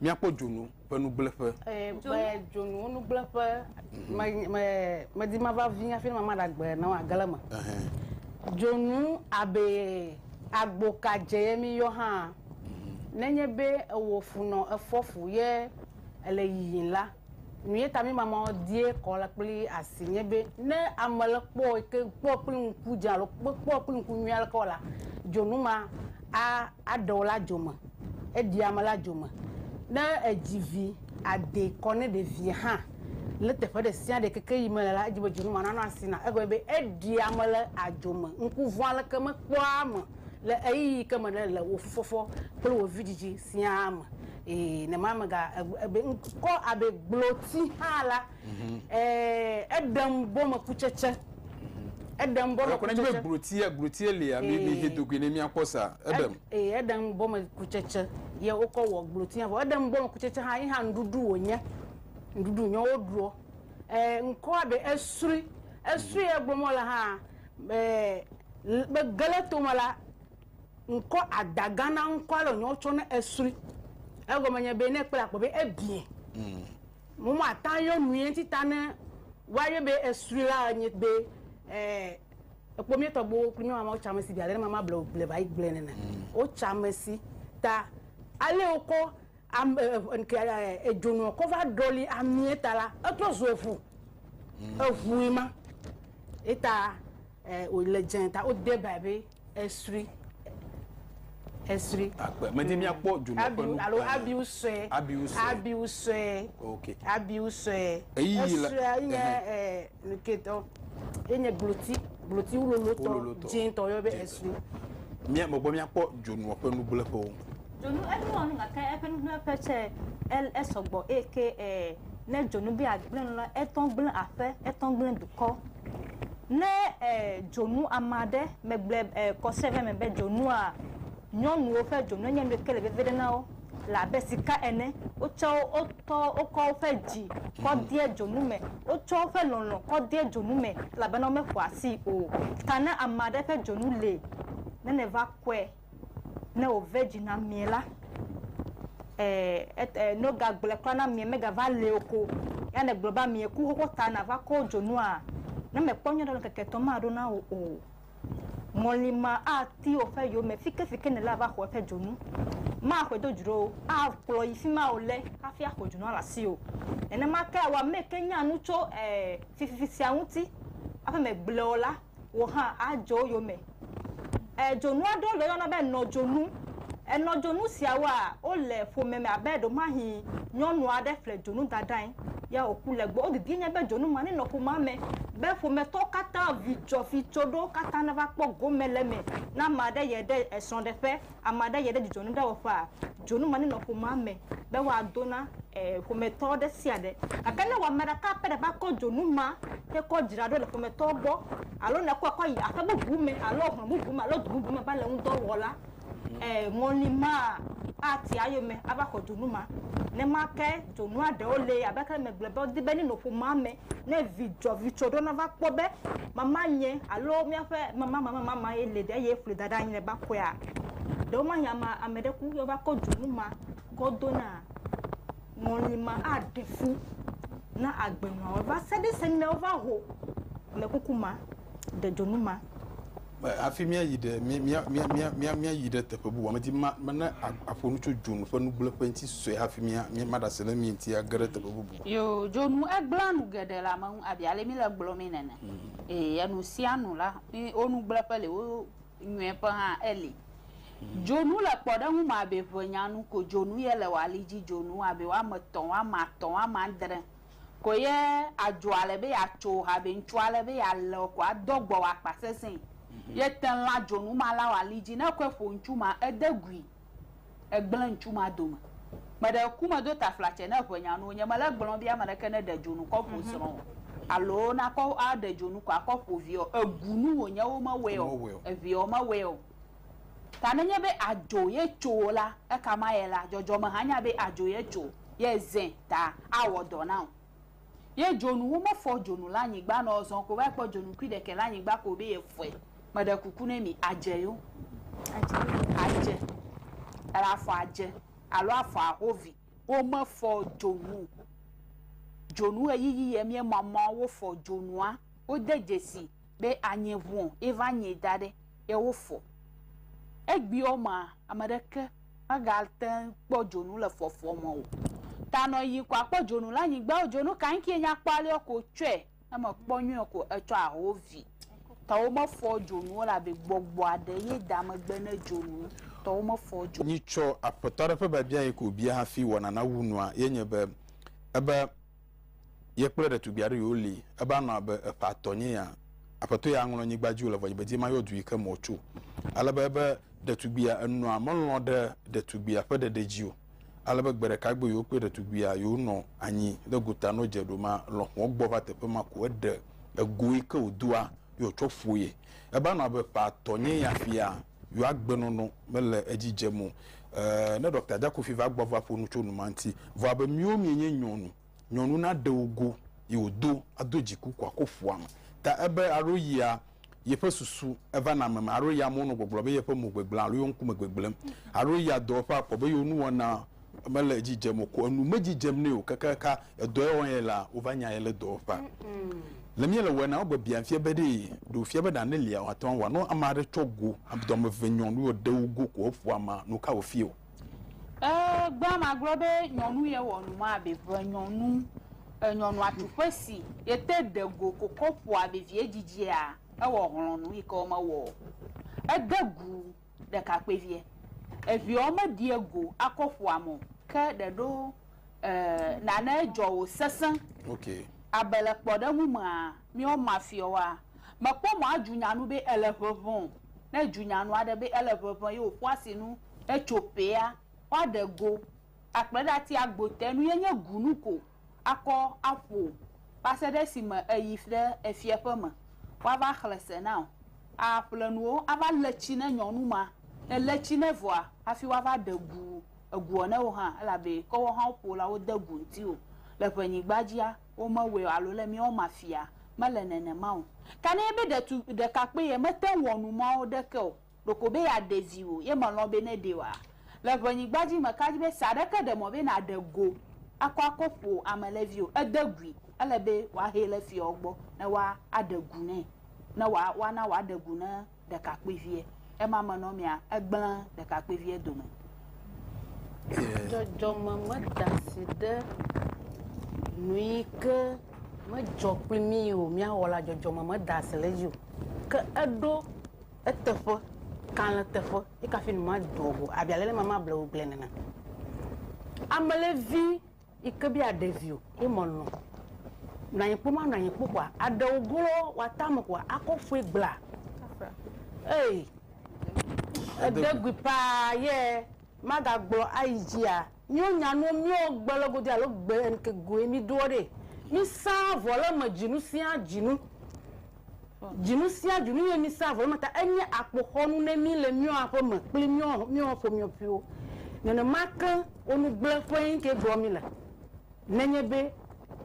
míakpɔ dzonu ƒe nugblẽƒe. Ee, gbe dzonuwo nugblẽƒe. Medi mhm. mava vi hafi ne mama ɖagbe na wo agale me. Dzonu abe agboka dze ye mi yɔ hã. Mhm. Nenye be ewɔ funɔ efɔ fu ye ele yiyim la, Nue ta mimamɔ die kɔ la kpli asi nye be ne ame le kpɔ ke kpɔ kpli ŋku dze alo kpɔ kpli ŋku nyuia le kɔ la dzonu ma a aɖewo la dzome eɖi ame la dzome ne edzi vi ade kɔ ne ɖe vi hã le teƒe ɖe sia ɖe keke yi me le la edzi be dzonu ma nanɔ asi na egɔme be eɖi ame le adzome ŋku vɔa le ke mekpɔa ame le eyi ke me ne le wofɔfɔ kple wo vidzidzi sia me Ee, ne ma mega ebe ŋkɔ abe gbloti hã la, mhm. ee, eɖem bɔme kutsetse. Mhm. Eɖem bɔme kutsetse. Ekɔnɔ be glotia, glotia lia, mi mi he dogui ne mia kpɔ sa, eɖem. Ee, eɖem bɔme kutsetse. Ye wokɔ wɔ glotia, vɔ eɖem bɔme kutsetse hã, yi hã nuɖuɖu wònye. Nuɖuɖu nyɔ woɖuɔ. Ee, ŋkɔ abe esri, esri egblɔ mɔ le hã, ee, megele tome la, ŋkɔ ada gã na ŋkɔ ale wònye wotsɔ ne esrui. Egɔme nye be ne ekpɔe akpɔ be ebiɛ. Mm. Mo mo ata yɔ nui enti ta ne woayɔ be esrui la enye be eh, ekpɔ mi tɔgbuwo kple mi mama wotsa mesi bi ale ne mama blewo ble va yi gblɔe nene. Mm. Wotsa mesi ta ale wokɔ am eh, eh, ke eh, edzonuɔ kɔ va ɖɔli amie ta la etrɔ zu eŋu. Mm. Eŋui ma. Eta eh, wòle dze ta wode bae be Esri. Esri. Akpe. Medi míakpɔ dzonu ƒe Abiu nu. alo eh, abiu sue. Abiu sue. Abiu sue. Ok. Abiu sue. Eyi yi la- Esue enye ehe. eh, nuketɔ. Enye gbloti. Gbloti wulolotɔ. Wololotɔ. Dzĩtɔ yɔ be Dzĩtɔ. esri. Mía megbɔ míakpɔ dzonuɔ ƒe nugblẽƒewo. Dzonu enuwɔ nu gake eƒe nugblẽƒe tsɛ el- esɔgbɔ eye ke eh, ne dzonu be yeagblẽ nu la, etɔ gblẽ aƒe, etɔ gblẽ dukɔ. Ne dzonu ame aɖe, megblɔe kɔse ɖe eme be dzonua, nyɔnuwo ƒe dzonu enye nu ke le veve ɖe na wo le abe sika ene. Wotsɔ wotɔ, wokɔ woƒe dzi kɔ dea dzonu me. Wotsɔ woƒe lɔlɔ̃ kɔ dea dzonu me elabena womeƒoa asii o. Ta ne ame aɖe ƒe dzonu li ne nèva kɔe, Ne wòve dzi na mie la, e, noga gblɔe kura na mie, megava le o ko, ya ne gblɔ be amie ku xoxo ta nava kɔ dzonua, ne mèkpɔ nyuiɖe o la, ŋkeke etɔ̃ maɖo na wò o. Ŋɔli ma ati woƒe yome fike fike nèle ava xɔ eƒe dzonu. Maxɔe do dzro o, akplɔ yi fima wòle hafi axɔ dzonua le asiwò. Nenema ke awɔ ameke nya nu tso, e, fififi sia ŋuti, aƒe me gblɔ o la. wò hã adze wo yome. E dzonu aɖewo le woyɔna be enɔdzonu. Enɔdzonu siawoa, wole ƒome me abe ɖewomahi nyɔnu aɖe ƒle dzonu da ɖe anyi ya wòku le egbɔ. Wo didie nye be dzonu ma nenɔ ƒomea me be ƒometɔwo katã vidzɔ vidzɔ ɖo katã nava kpɔ gome le eme. Ne ame aɖe yie ɖe esrɔ̃ɖeƒe ame aɖe yie ɖe dzidzɔnuɖewɔƒea, dzonu ma nenɔ ƒomea me be woado na ƒometɔ ɖe sia ɖe. Gake ne wò ame ɖeka pɛ ɖe va kɔ dzonu ma tsɛ kɔ dzra ɖo le ƒometɔa gbɔ alo ne èkɔe kɔ yi aƒe bubu me alo hlɔ̃ bubu me alo du bubu me va le ŋudɔ wɔ la, ŋɔli ma ati eyome ava xɔ dzonu ma. Nenema ke dzonua ɖewo li abe aleke megblɔ be wodi be nenɔ ƒomea me Ne vi dzɔ, vi tsɔ ɖo nava kpɔ be mamanye alo míaƒe mamamamama ye li ɖe eye ƒli da ɖe anyi le bakoea, ɖewo mahi ame ame ɖe ku ye va kɔ dzonu ma kɔ do na ŋɔli ma aɖe fu na agbenɔawo va se ɖe esime wova ho amekuku ma. ɖe dzonu ma. Hafi míayi ɖe míayi ɖe teƒe bubu, medi be ne aƒo nu tso dzonu ƒe nugblẽƒe ŋuti sue hafi maɖe asi ɖe mí ŋuti age ɖe teƒe bubu. Yoo, dzonu gblẽa nu geɖe le ame ŋu abe ale míle gblɔmee nene. Ee, enu sia nu la, wo nugblẽƒe li, wo nyɔeƒe hã eli. Dzonu le kpɔɖeŋu me abe ʋenyanu ko dzonu ye le wò ali dzi, dzonu abe woame etɔ̃, woame atɔ̃, woame adre. Ko ye adzo ale be yeatso ha be ŋutsu ale be yealé wò ko adɔ gbɔ wò akpa sesẽe. Ye te lã dzonu ma la wɔ ali dzi. Ne ekɔe ƒo ŋutsu ma, ede gui. Egblẽ ŋutsu ma dome. Meɖe ku medo taflatse ne eŋe nya nuwo. Nyemele egblɔm be ame ɖeke neɖe dzonu kɔ ƒo srɔ̃ o alo nakɔ aɖe dzonu ko akɔ ƒo viawo o. Ebu nu wònye womewɔe o. Eviawo mewɔe o. Ta nenye be adzo ye tso o la, ekama ye la, dzɔdzɔme hã nya be adzo ye tso, ye zẽ ta awɔ dɔ na wò. Ye dzonu womefɔ dzonu le anyigba nɛ o, zɔn ko va kpɔ dzonu kui ɖekɛ le anyigba ko be ye fɔe. Meɖe kuku ne mi, adze yo? Adze. Ela afɔ adze alo afɔ aho vi. Womefɔ dzonu o. Dzonu ɣeyiɣi ye mie mɔmɔ wofɔ dzonua. Wode dzesi. be anye ŋuɔ, ye va nyɛ da ɖɛ ye wo fɔ. Egbeɔ ma ameɖeke me ga teŋ kpɔ dzonu le fɔfɔ me o. Ta nɔ yi kɔ akpɔ dzonu le anyigba ɔ, dzonu kan ŋke nya kpɔ alɛɔ ko tsɔɛ? Ne me kpɔ nyuiɔ ko etsɔ aho vi. Ta wo me fɔ dzonuo le abe gbɔgbɔ aɖe ye da megbe ne dzonu wo. Ta wo me fɔ dzonuo. Nyitsɔ Aƒetɔ aɖe ƒe biabia yi ke wo bia hafi wɔna na wu nua ye nye be, ebe, Ye kple ɖetugbui aɖe yio li. Eba nɔ abe eƒe atɔ nye ya. Aƒetɔ ya ŋlɔ nyigba dzi wòle vɔ̃dzi be dzi mayɔ du yi ke me wòtso. Ale be ebe ɖetugbuia enɔa melɔ̃ ɖe ɖetugbuia ƒe ɖeɖe dzi o. Ale be gbe ɖeka gbe yio kple ɖetugbuia yio nɔ anyi ɖe gota no dze ɖo ma lɔ̃xoɔ gbɔ va teƒe ma ko eɖe ego yi ke wòdoa yio tsɔ ƒoe. Eba nɔ abe eƒe atɔ nye ya fia. yewo agbenɔnɔ mele edzi dzem o. Ee, ne ɖɔkta Jakofi va gbɔ va ƒo nu tso nu ma ŋuti. Vɔ abe míwo míenye nyɔnu, nyɔnu naɖe wò go yi wòdo ado dziku ko ako ƒua me. Ta ebe alo yia yeƒe susu eva na ame me, alo yia amewo nɔ gbɔgblɔ be yeƒe mo gbegblẽm alo yewo ŋkume gbegblẽm, alo yia dɔwɔƒe akpɔ be yewo nuwɔna mele edzi dzem o ko enu medzi dzem nɛ o kakaka edɔ ye wɔm ye la wova nya ye le dɔ wɔƒea. Le mía le wɔe na wogbe bia fia be ɖee ɖe wofia be ɖa ne lia woate ŋu awɔ ne ame aɖe tsɔ go dɔ ame eve nyɔnu ye ɖe wo go ko eƒo ama nu ka wofia wo. E gbea ma gblɔ be nyɔnu ye wɔ nu ma be ƒe nyɔnu e nyɔnua tu ƒe si ye te ɖe go ko kɔ ƒoa be vie dzidzia ewɔ hlɔnu yi ke wo me wɔ o ede gu. ɖekakpuiviɛ. Eviɛɔ meɖiɛ go akɔ ƒoa me o. Ke ɖeɖo e nane jɔ wo sesẽ. Ok. Abe le kpɔɖeŋu mea, míwo mafiɔwoa, mekpɔ mɔ aju nya nu be ele ʋeʋẽ o. Ne eju nya nu aɖe be ele ʋeʋẽ ye wòƒo asinu etso ƒea, woaɖe go akplɔe ɖe ati agbo te. Nuyɛ nye gunu ko. akɔ aƒo va se ɖe esime èyi ɖe efiaƒe me woava xlẽ se na wò. Àƒle nuwo ava lé tsi ne nyɔnu ma, ne lé tsi nɛ vɔa, hafi woava ɖe gu eguɔ ne wò hã, elabe ke woawo hã woƒo la wode gu ŋutiwò. Le ʋɛnyigba dzia, womewɔe o, alo le míawo mafia, mele nenema o. Ka nɛ be ɖetu, ɖekakpuie mete ŋu wɔ nu mawo ɖeke o. Ɖeko be yeaɖe viwò ye mèlɔ̃ be neɖee oa? Le ʋenyigba dzi meka dzi be se aɖeke ɖe mɔ be nàɖe go akɔ akɔ ƒo ame le viwò o. Ede gui, ele be wòahee le fiawo gbɔ ne woaɖe gu nɛ, ne wòa, woana wòaɖe gu ne ɖekakpuiviɛ. Ema me nɔ mia, egblẽ ɖekakpuiviɛ dome. Dzɔdzɔme meda asi ɖe nuyike medzɔ kpli mí o, míawɔ la, dzɔdzɔme meda asi ɖe edzi o. Ke eɖo. Eteƒe, kalẽ teƒe, ye kafi nu ma do go, abi ale ma ma ble wo gble nena. Amelevi yi ke bia ɖevi o, ye mɔ nɔ. Nɔ anyi kpo ma nɔ anyi kpo kwa, aɖewo golo wa tame kwa, akɔ fue gbla. Ei, edegui paa ye ma ga gblɔ ayi dzia. Míwo nya nuwo míwo gbe le godoe alo gbe enke goe mí doɔ ɖe. Mí sã vɔ le eme djinu sia djinu. Djinu sia djinu ye mí sã vɔ le eme ta enye akpoxɔnu ne mí le míwo aƒe me kpli míwo míwo ƒomiɔpiwo. Nenema ke wo nu gble ƒe enke doɔ mí le. Nenye be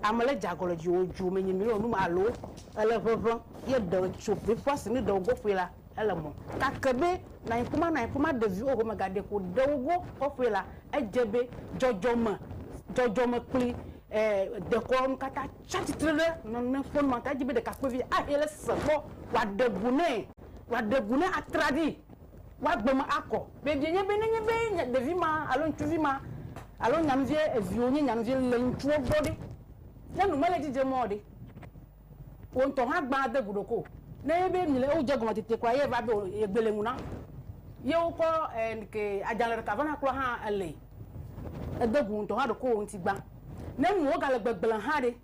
ame le dza gɔle dzi wo djo me nyi milo num alo ele ʋeʋe ye ɖe tso be ƒua sini ɖe wogo ƒue la, ele mɔ kake be nanyi kuma nanyi kuma ɖevi wo home ga ɖeko ɖe wogo kɔ ƒue la, edje be djɔdjɔ me djɔdjɔ me kpli eh dekɔ nu kata tsa tsitre ɖe nɔnɔme ƒe nɔnɔme ta edji be ɖekakpuivi ahe le se kpɔ wa ɖe gu ne wa ɖe gu ne atra ɖi. woagbe me akɔ. Vevie nye be nenye be nya, ɖevi ma alo ŋutsuvi ma alo nyanuviɛ eviwo nye nyanuvi le ŋutsuwo gbɔ ɖe, ne nu mele edzi dzem ɔ ɖe, wò ŋutɔ hã gbã ade gu ɖokoo. Ne enye be mile ewo dze gɔme tete kɔa, ye va be wò ye gbe le ŋu na. Ye wokɔ ɛ nike adzalɛ ɖeka vana klɔa hã ele. Ede gu wò ŋutɔ hã ɖokowò ŋuti gbã. Ne nuwo gale gbegblẽ hã ɖe.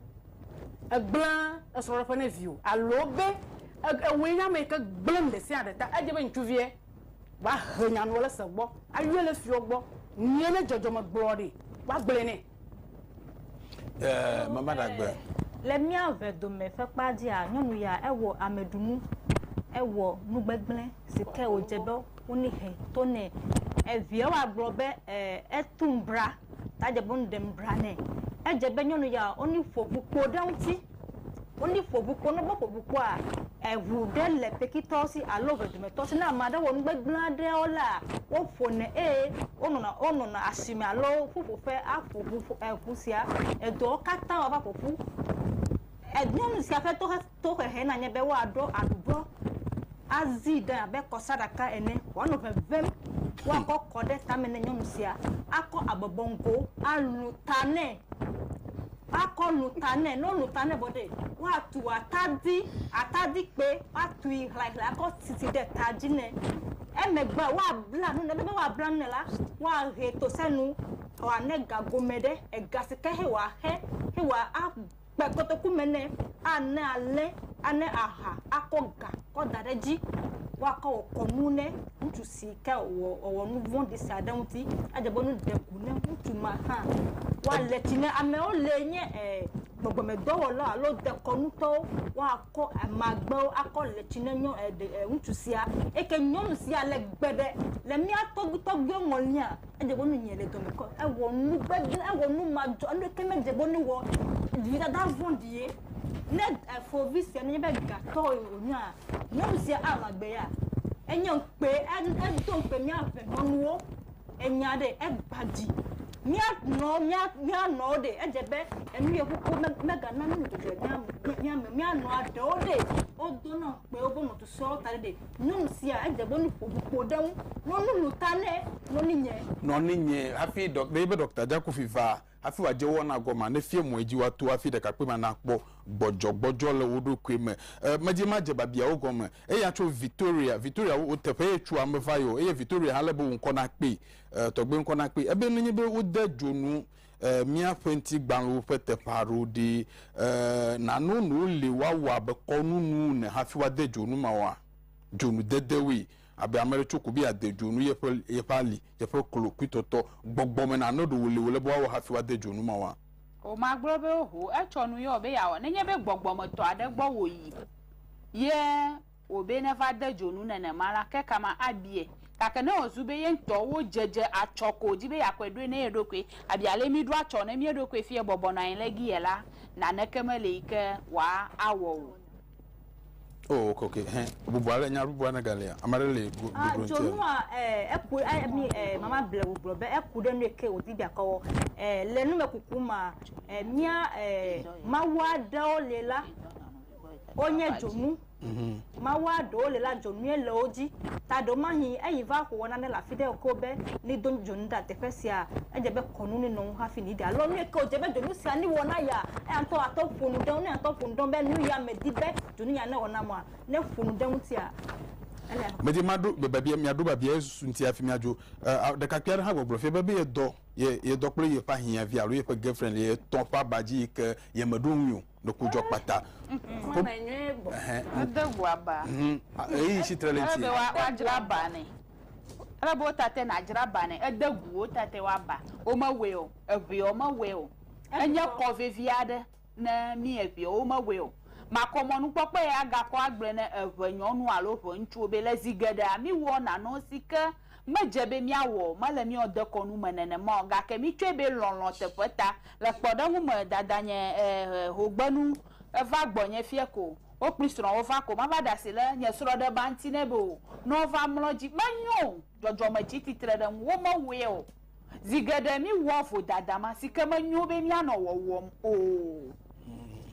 ègblẽa esrɔ̃ɖeƒe ne viwò alo be ewòe nye ame yi ke gblẽ nuɖesiaɖe ta. Edze be ŋutsuviɛ woahe nya nuɔ le se gbɔ, ayɔɛ le fiɔ gbɔ, nyuie ne dzɔdzɔme gblɔɔ ɖi woagblɔɛ nɛ. Ɛɛ, mama ɖagbe. Le mía ŋɛ dome ƒe kpa dzia, nyɔnu ya ewɔ ameɖunu, ewɔ nugbegblẽ si ke wòdze be wonehɛ to nɛ. Eviɛwoa gblɔ be, ɛɛ, etum bra. ta dze be nu ɖem bla nɛ. Edze be nyɔnu ya woni ƒo ʋu kpo ɖe eŋuti. Woni ƒo ʋu kpo. Ne wo ƒo ʋu kpoa, eʋu ɖe le kpekitɔ si alo eve dome tɔ si. Ne ame aɖe wɔ nu gbegble aɖe wo la, wo ƒone eye wo nɔna wo nɔna asime alo ƒuƒo ƒe aƒo ʋu eʋu sia. Edɔwo katã wo va ƒoƒu. Enyɔnu sia ƒe toxe Tohehe nanye be woaɖo aɖubɔ azii ɖe abe kɔsaɖaka ene wòanɔ ʋeʋẽm, woakɔ kɔ ɖe tame ne nyɔnu sia, akɔ abɔbɔ ŋgo alũ ta nɛ, akɔ lũ ta nɛ, ne wolũ ta nɛ vɔ ɖee, woatu atadi, atadikpe, woatui hlaehlae akɔ sisi ɖe ta dzi nɛ. Emegbea, woabla nu nɛ. Aleke woabla nu nɛ la, woahee tosenu wòane ga gome ɖe, ega si ke xe wòaxe, xe wòaxe kpe kotoku me nɛ, ane alẽ, ane aha, akɔ ga kɔ da ɖe edzi, woakɔ wɔ kɔnu ne ŋutsu si ke wɔ wòwɔ nu vɔ̃ɖi sia ɖe ŋuti. Edze be nu ɖe ku ne ŋutsu ma hã. Woale tsi ne amewo le nye e gbɔgbɔmedɔwɔla alo dekɔnutɔwo. Woakɔ amagbewo akɔ le tsi ne nyɔ e ɖe e ŋutsu sia. Eke nyɔnu sia le gbe ɖe le mía tɔgbi tɔgbiwo ŋɔlia? Edze ƒo nunye le dɔme ke ewɔ nu gbegblẽ, ewɔ nu madzɔ, nu ɖeke medze ƒo nui o. Vidada vɔ̃ɖi ye. Ne fovi sia nye eƒe gatɔ wònyea, nyɔnu sia anɔ agbea? Enye ŋukpe, edo ŋukpe mía ƒemenuwo. Enya ɖe, egbã dzi. Mía nɔ, mía, mía nɔwo ɖe, edze be enu ye ƒoko megana nu le dzɔdzɔe mía me, mía me. Mía nɔa ɖewo ɖe, wodona ŋukpe woƒe nɔsusɔewo ta ɖe ɖe. Nyɔnu sia edze be nu ƒo ŋu kpo ɖe eŋu. Nɔ nu lu ta ne nɔninyɛ. Nɔninyɛ hafi ɖɔ, ne yibe ɖɔkta Jakufi va hafi wòadze wɔna gɔmea, nefia mɔe dzi woato hafi ɖekakpuimea nakpɔ gbɔdzɔgbɔdzɔ le wo ɖokui me. E, medi madze babiawo gɔme. Eya tso Vitoria. Vitoria, wo, teƒe ye tsua meva ye o. Eye Vitoria hã le be wò ŋkɔ nakpee. E, tɔgbui ŋkɔ nakpee. Ebe nenye be wode dzonu eh, míaƒe ŋtigbalẽwo ƒe teƒe aɖewo ɖi. Eh, nano nu li woawɔ abe kɔnunu ne hafi woade dzonu ma wɔa? Dzonu dedewoe. Abe ame ɖe tso ko be ade dzonu yeƒe, yeƒe ali, yeƒe klo, kpuitɔtɔ, gbɔgbɔ me nane ɖewo li wòle be woawɔ hafi woade dzonu ma wɔa? Womagblɔ be oho, etsɔ nu yɔ be yeawɔ, nenye be gbɔgbɔmetɔ aɖe gbɔ wòyi ye o be neva de dzo nu nenema la, ke kama abiae. Gake ne wòzu be ye ŋutɔ wodze dze atsɔ ko wòdi be yeakɔe ɖoe ne ye ɖokui, abia ale mí ɖo atsɔ ne mía ɖokui fiae bɔbɔ nɔ anyi le gi ye la, naneke meli yi ke wòa awɔ o. O, ok, ok, hɛ, bubu ale, nya bubu ale galia? Ame aɖe li go, Ah, doɖo ŋuti alo? dzonua, eh, eku, eh, mi, eh, mama ble wò gblɔ be eku ɖe nuye ke wòdi be yeakɔ wɔ. Eh, le numekuku mea, eh, mía, eh, Mawu aɖewo li la. wonye dzonu. Mawua ɖewo le la dzonuie le wo dzi. Ta ɖewo mahi eyi va xo wɔna ne le afi ɖe ko be ni do dzonu ɖa teƒe sia. Edze be kɔnu ni nɔŋ hafi ni ɖe alo nue ke wodze be dzonu sia ni wɔ na ya. Eya ŋutɔ atɔ ƒonu ɖe ŋu. Ne atɔ ƒonu ɖe ŋu be nu ya me di be dzonu ya ne wɔ na mua ne ƒonu ɖe ŋutia ele. Me di ma ɖo babia mia ɖo babia ye susu ŋuti hafi mia dzo. E, ɖekakpui aɖe hã gbɔgblɔ fia be be ye dɔ ye ye dɔ kple ye ƒe ahiãvi alo ye ƒe girlfriend le ye tɔ ƒe aba dzi yi ke ye me ɖo ŋui o. ɖoku dzɔ kpata. Ede ŋu aba. Eyi si tre le ŋuti. Ele be woadzra aba nɛ. Ele be wotate nadzra aba nɛ. Ede ŋu wotate woaba. Womewɔe o. Eŋee womewɔe o. Enye kɔ vevi aɖe ne mí eŋee womewɔe o. Makɔmɔnukpɔkpɔe agakɔ agblɔe ne eŋenyɔnu alo eŋeŋutsuwo be le zi geɖea míwɔ nanewo si ke Medze be míawɔ mele míawo dekɔnu me nenema o, gake mítsɔe be lɔlɔ̃ teƒe ta. Le kpɔɖeŋu me, dadanye hogbenu va gbɔnye fiẽ ko, wo kple srɔ̃wo va ko. Mava ɖe asi ɖe nye srɔ̃ ɖe ba ŋuti nɛ be o, ne wova mlɔ edzi. Menyo o, dzɔdzɔme tsi tsitre ɖe ŋuwò, mewɔe o. Zi geɖe míwɔa vodada ma, si ke menyo be míanɔ wɔwɔm o.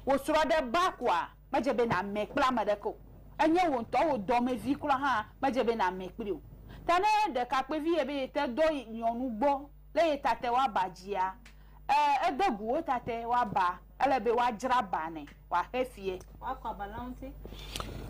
Wò srɔ̃ ɖe ba koa? Medze be nàmè kple ame aɖeke o. Enye wò ŋutɔ wò dɔmevi kura hã, medze be nàmè kpli o. Ta ne ɖekakpuivi yie be yete dɔ nyɔnu gbɔ le ye tatɛ woaba dzia, ẽ, ede gu wo tatɛ woaba. Ele be woadzra ba nɛ wòaxe fiɛ. Woakɔ aba la ŋuti.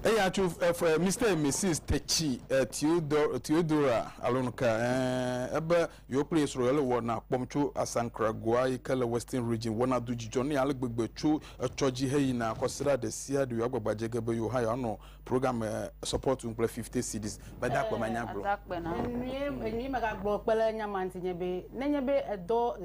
Eya tso ef, Mister et Missis Tetsy Theodor, Theodora Alonka, ẽ, ebe Yewo kple Yesreɛl wɔna kpɔm tso Asankra Goa yi ke le Western Region wɔna do dzidzɔ nɛ ale gbegbe tso etsɔ dzi heyina kɔsiɖa ɖe sia ɖe yewoagbagba dze ge be yewo hã yewoanɔ program me support ŋu kple fifty cedis. Mede akpe me nya gblɔ. Enue, enue megagblɔ kpe ɖe nya ma ŋuti nye be nenye be èdɔ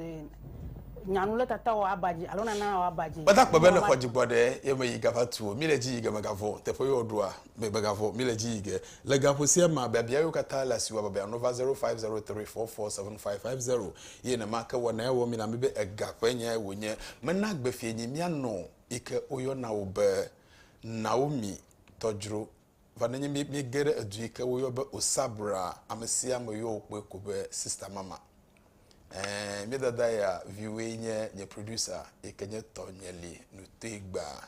nya nu ɖe tata wò aba dzi alo nana wò aba dzi. Meda akpe be nèxɔ dzigbɔɖi ye meyi gava tu o. Míle dzi yi ge megavɔ̃ teƒe yewoɖoa. me megavɔ̃, míle edzi yi ge. Le gaƒo sia mea, biabia yewo katã le asiwò abe biaŋno va 0503447550 ye nenema ke wɔnae wɔ mí la mí be ega ƒe nyae wònye. Mena gbe fienyi mía nɔ yi ke woyɔna wò be Naomi tɔdzro va nenye mí míege ɖe edu yi ke woyɔ be Osabra, ame sia ame yɔ wò kpɔe ko be Sista Mama. Ɛɛ, mía dada ya viwoe nye nye producer yi ke nye tɔ nye li nu toe gbaa.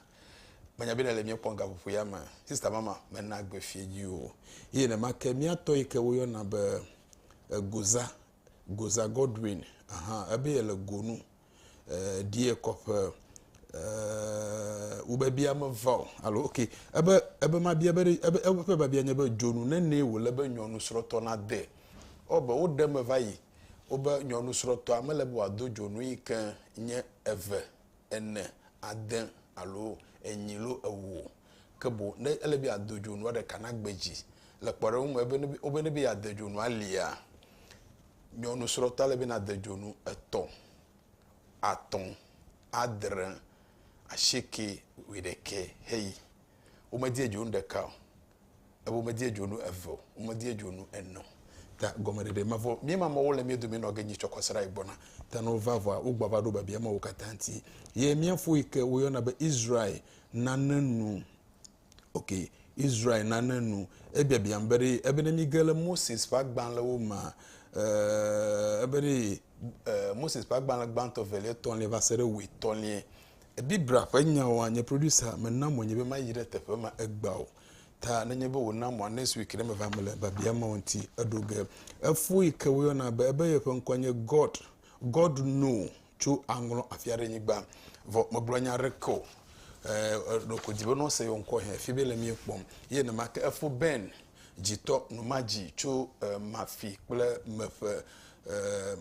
Menya be nèle mía kpɔm gaƒoƒo ya me. Sista Mama mena gbe fiẽ dzi o. Ye nenema ke mía tɔ yi ke woyɔna be Goza, Goza Godwin, ahan, ebe yele go nu eh, ɖi ekɔ ƒe eh, wobebia meva o alo ok ebe ebe mabia be ɖe- ebe ebe ƒe babia nye be dzonu nene wòle be nyɔnusrɔ̃tɔ nade o be woɖe me va yi wobe nyɔnusrɔ̃tɔa mele be wòado dzonu yi ke nye eve ene ade alo enyi lo ewo o ke boŋ ne ele be yeado dzonua ɖeka na gbe dzi le kpɔɖeŋu me ebe ne be- wobe ne be yeade dzonua alia Nyɔnu srɔ̃tɔ ele be nade dzonu etɔ̃, atɔ̃, adre, asieke, wuiɖekɛ heyi. Womedie dzonu ɖeka o, eye womedie dzonu eve o, womedie dzonu ene o. Ta gɔmeɖeɖe mevɔ. Míema mɔ wole mía dome nɔ ge nyi tsɔ kɔsiɖa yi gbɔna. Ta ne wova vɔa, wogbɔ ava ɖo biabia mawo katã ŋuti. Ye mía fo yi ke woyɔna be Israel nane nu. Ok, Israel nane nu. Ebiabiam be ɖe ebe ne mige le Moses ƒe agbalẽwo me, eh, ebe ɖe eh, Moses ƒe agbalẽ gbãtɔ, velia, etɔ̃lia va se ɖe wuietɔ̃lia. Biblia ƒe nyawoa, nye producer mena mɔ nye be mayi ɖe teƒe ma egbea o. Ta nenye be wòna mɔa, next week ɖe meva mele biabia mawo ŋuti eɖo ge. Efo yi ke woyɔna be ebe yeƒe ŋkɔe nye God. God know. tso aŋlɔ afia ɖe nyigba vɔ megblɔ nya ɖe ke o ɖoko di be nɔ se yɔ ŋkɔ hɛ fi be le mi kpɔm ye ne ma ke efo ben dzitɔ nu ma dzi tso mafi kple meƒe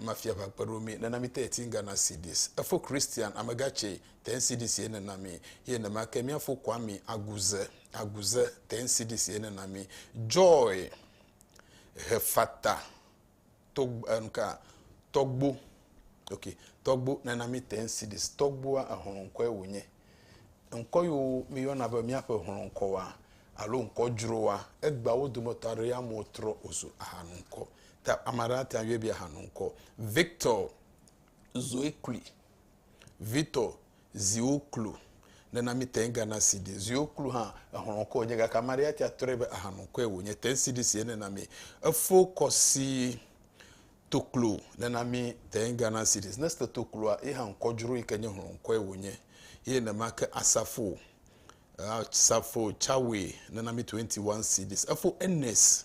mafia va kpe ɖo mi nena mi te eti gana cds efo christian amegatse te cds ye nena mi ye ne ma ke miafo kwa mi aguze aguze te cds ye nena mi joy hefata Togb, eh, nuka, tɔgbo, ok, tɔgbo, nana mi ten cities, tɔgboa ehlɔ̃ ŋkɔe wònye. Ŋkɔ yiwo mi yɔna be miaƒe hlɔ̃ ŋkɔ wa, alo ŋkɔ dzro wa, egbea wo dometɔ aɖe ya amewo trɔ wòzu ahanu ŋkɔ. Ta ame aɖe ate ŋu yɔe be ahanu ŋkɔ. Victor, Zoe Kuli, Vitor, ziwo klo nena mi tɛn gana sidi ziwo klo hã exlɔ kɔ nye gake amari ya tia trɔe be ahanu kɔe wo nye tɛn sidi si nena mi efo kɔ si toklo nena mi tɛn gana sidi ne ste tokloa ye hã kɔ dzro yi ke nye hlɔ kɔe wo nye ye ne ma ke asafo asafo chawe nena mi 21 sidi efo enes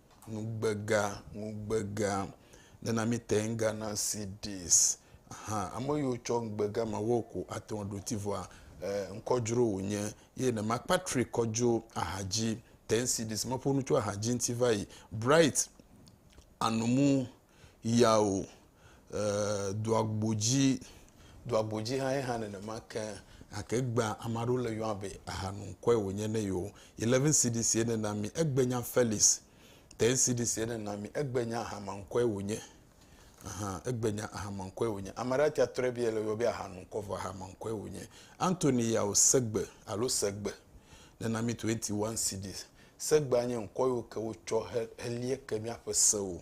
ŋugbega, ŋugbega, nana mi te ŋga na CDs. Aha, ame yiwo tsɔ ŋugbega ma wɔ ko ate ŋu aɖo ti vɔa, eh, ŋkɔdzro wònye. Ye ne ma Patrick kɔdzo ahadzi, ten CDs, meƒo nu tso ahadzi ŋuti va yi. Bright, anomu, yao e doagbodzi doagbodzi hã yehã nenema ke gake egbea ame aɖewo le yɔa be aha nu ŋkɔe wònye ne yewo eleven cds ye nena mi egbenya felix ten cds ye nena mi egbenya ahama ŋkɔe wònye aha egbenya ahama ŋkɔe wònye ame aɖe atia trɔe bia le yɔ be aha nu ŋkɔ vɔ ahama ŋkɔe wònye antony yao segbe alo segbe nena mi twenty one cds segbea nye ŋkɔ yiwo ke wotsɔ he helie ke míaƒe sewo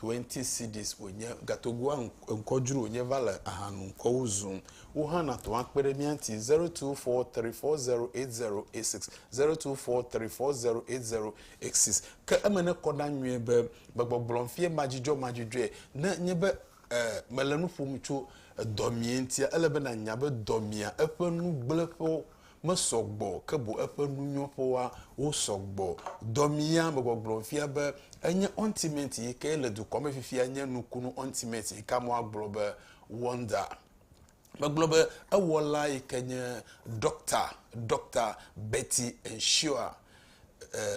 20 cedis wònye. Gatogoa ŋkɔ dzro wònye va le ahanu ŋkɔwo zum. Wò hã nàtɔ akpe ɖe mía ŋuti. 0243408086, 0243408086. Ke eme nekɔ ɖa nyuie be gbegbɔgblɔm fie madzudzɔmadzudzɔe ne nye be e, mele nu ƒom tso dɔmee ŋutia, ele be nànya be dɔmea, eƒe nugblẽƒewo, mesɔ gbɔ ke boŋ eƒe nunyɔƒewoa, wosɔ gbɔ. Dɔmia me gbɔgblɔ fia be enye Ontimate yi ke le dukɔa me fifia nye nukunu Ontimate yi ke amewo agblɔ be Wonder. Megblɔ be ewɔla yi ke nye Ɖɔkta, Ɖɔkta Betty Ensure.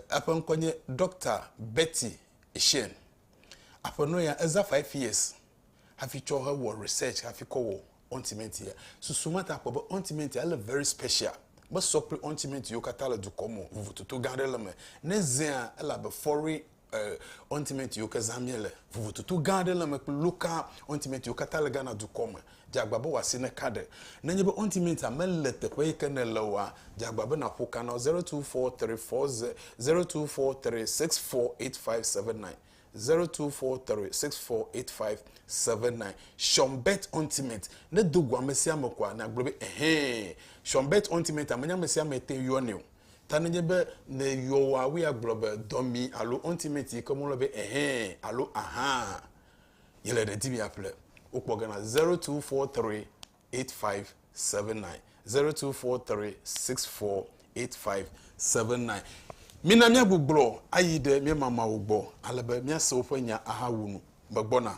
Eƒe ŋkɔe nye Ɖɔkta Betty Eshien. Aƒenɔ ya, eza five years hafi tsɔ hewɔ research hafi kɔ wɔ ointment ya. Susu ma ta kpɔ be ointment ya ele very special. Mesɔ kple ointment yiwo katã le dukɔ me o. Vovototo gã aɖe le eme. Ne ezea, ele abe foreign eh, ointment yiwo ke zã míele. Vovototo gã aɖe le eme kple local ointment yiwo katã le Ghana dukɔ me. Dze agba be wò asi neka ɖe. Nenye be ointment mele teƒe yi ke nèle oa, dze agba be nàƒo ka na wo 024340 0243648579. Zero two four three six four eight five seven nine Sean Bet Ultimate ne do go ame sia ame koa na gblɔ be ɛhɛn Sean Bet Ultimate ame nye ame sia ame te yɔ nɛ o ta ne nye be ne yɔ wa wo ya gblɔ be dɔmi alo ultimate yi ke mo lɔ be ɛhɛn alo ahan yele ɖe di mi ya ƒle wo kpɔ gana zero two four three 8579. 0243648579. Mina míagbugbɔ ayi ɖe mía mamawo gbɔ ale be míase woƒe nya ahawu nu. Megbɔna.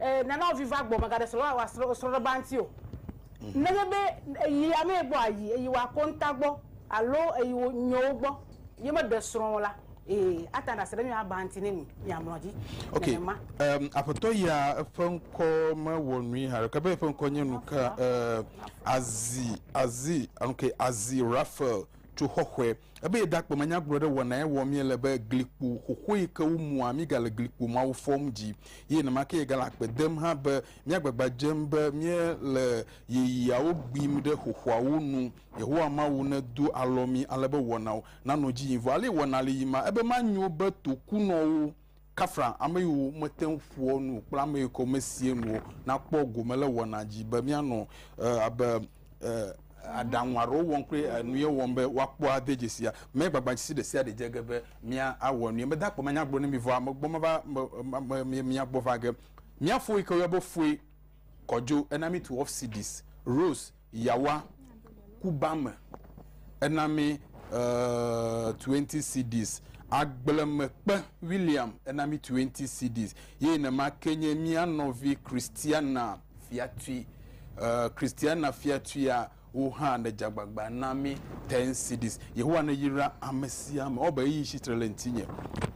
Eh, nana wo vi va gbɔ, mègaɖe srɔ̃ va wòa srɔ̃ srɔ̃ɖeƒe ba ŋuti o. Nenye be èyi amee gbɔ ayi eyi wòa konta gbɔ alo eyi wo nyewo gbɔ ye meɖe srɔ̃ o la, ee, ate ŋu aɖe asi ɖe mía ba ŋuti ne mi miamlɔ edzi Ok, nenema. em, aƒetɔ ya eƒe ŋkɔ mewɔ nui haɖeke be eƒe ŋkɔ nye nu ka, eh, Azi, Azi, ok, Azi Raphael tso xɔxɔe. Ebe yeɖakpɔ manyagblɔ ɖe wɔna ye wɔm míele be glikpo xoxoe yi ke womua, míegale glikpo mawo fɔm dzi ye nenemakeɛ yegale akpe dem hã be míagbagba dzem be míele yeyeawo gbim ɖe xoxoawo nu. Yehowa Mawu nedo alɔ mí ale be wɔnawo nanɔ edzi yim. Vɔ ale wɔna le yima ebe manyo be tokunɔwo. Kafra ameyiwo mete ŋu ƒoa nu kple ameyiwo ke mesea nu o nakpɔ gome le wɔna dzi be míanɔ abe aɖaŋu aɖewo wɔm kple nuye wɔm be woakpɔ ade dzesia. Megbagbadzesi ɖesiaɖe dze ge be mía awɔ nuye. Mede akpe manya gblɔ ne mi vɔ ame gbɔ meva mia gbɔ va ge. Mía fo yike woyɔna be foe kɔdzo ena mi tu off cities, rolls. Yawa kuba me ena mi uh, 20 cedis. Agblemekpe William ena mi 20 cedis. Ye nema ke nye mía nɔvi Christiana Fiatui. Uh, Christiana Fiatuia wo hã ne dzagbagba na mi 10 cedis. Yehowa ne yra ame sia ame. Ɔbe eyi si tre le ŋutinye.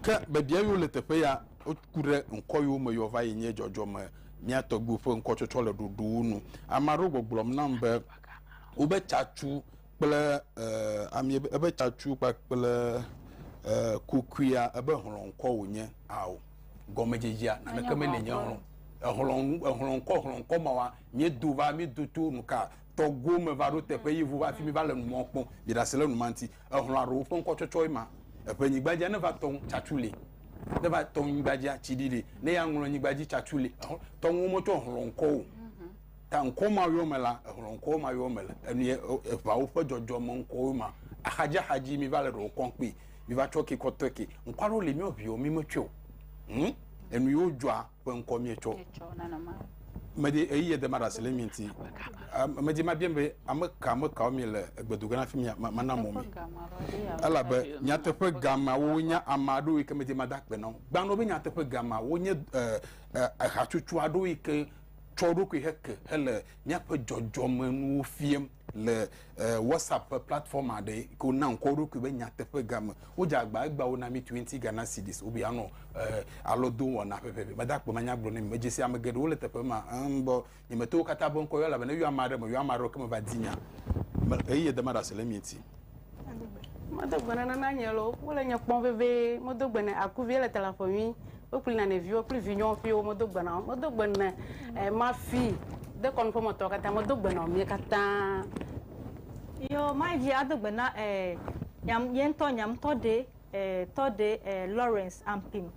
Ke bebia yiwo le teƒe ya woku ɖe ŋkɔ yiwo me yɔ va yi nye dzɔdzɔme Mía tɔgbuiwo ƒe ŋkɔtsɔtsɔ le ɖoɖowo nu. Ame aɖewo gbɔgblɔm nam be wobe tsatsu kple amie be ebe tsatsu kpakple kukuia ebe hlɔ̃ŋkɔ wònye. Ao, gɔmedzedzea naneke meli nye hlɔ̃. Ehlɔ̃ nu, ehlɔ̃ŋkɔ, hlɔ̃ŋkɔ mawa miedo va, miedo to nuka tɔgbuiwo me va ɖo teƒe ye vo va fi mi va le numɔ kpɔm. Miɖe asi ɖe nu ma ŋuti. Ehlɔ̃a ɖewo ƒe ŋkɔtsɔtsɔe ma. Eƒe nyigba dzia, ne va tɔ ŋu, tsatsu li. Ne va tɔ nyigba dzia, tsi ɖi li. Ne ya ŋlɔ nyigba dzi, tsatsu li. Ehlɔ̃, tɔ ŋuwo metsɔ hlɔ̃ ŋkɔ o. Ta ŋkɔ ma yɔ me la, ehlɔ̃ ŋkɔwo ma yɔ me le. Enu ye eʋawo ƒe dzɔdzɔme ŋkɔwoe ma. Axadzi axadzi mi va le ɖewo kɔm kpi. Mi va tsɔ ke kɔtɔe ke. Ŋkɔ aɖewo li mi o viwo mi metsɔe o. Hm? Enu yiwo dzɔa. Ƒe ŋkɔ mietsɔ. Medi ɣeyiɣie de maɖe asi le mi ŋuti. Medi mabia mi be, ame ka ame kawo miele egbe do ge na fi mia? Mana mɔ mi. Elabe nyateƒe ga mawo nye ame aɖewo yi ke medi mada akpe na wo. Gbanɔ be nyateƒe ga mawo nye hatsotso aɖewo yi ke tsɔ eɖokui heke hele míaƒe dzɔdzɔmenuwo fiam. Le WhatsApp ƒe platform aɖe yi ke wona ŋkɔ wo ɖokui be Nyateƒega me, wodze agba egba wona mí twenty Ghana cedis wobe yeanɔ alɔdowɔna ƒeƒe. Mede akpe manyagblɔ ne mi. Medze si ame geɖewo le teƒe ma, em, be nyemeto wo katã ƒe ŋkɔ yɔ elabena eyɔ ame aɖe, meyɔ ame aɖe o, ke meva di nya me eye de maɖe asi le emia ŋuti. Medo gbe nana na nye lo, wole nye kpɔm vevie. Medo gbe ne akuvie le talaƒo nyui. Wokpli na ne viwo kple vinyɔwo ƒio medo gbe na wo. Medo gbe ne eh, mafi dekɔnu ƒemetɔ katã. Medo gbe na mie katã. Yo, mayi dzi ado gbe na eh, nyam, ye ŋutɔ nyamtɔ ɖe E tɔ ɖe e Lawrence Ampim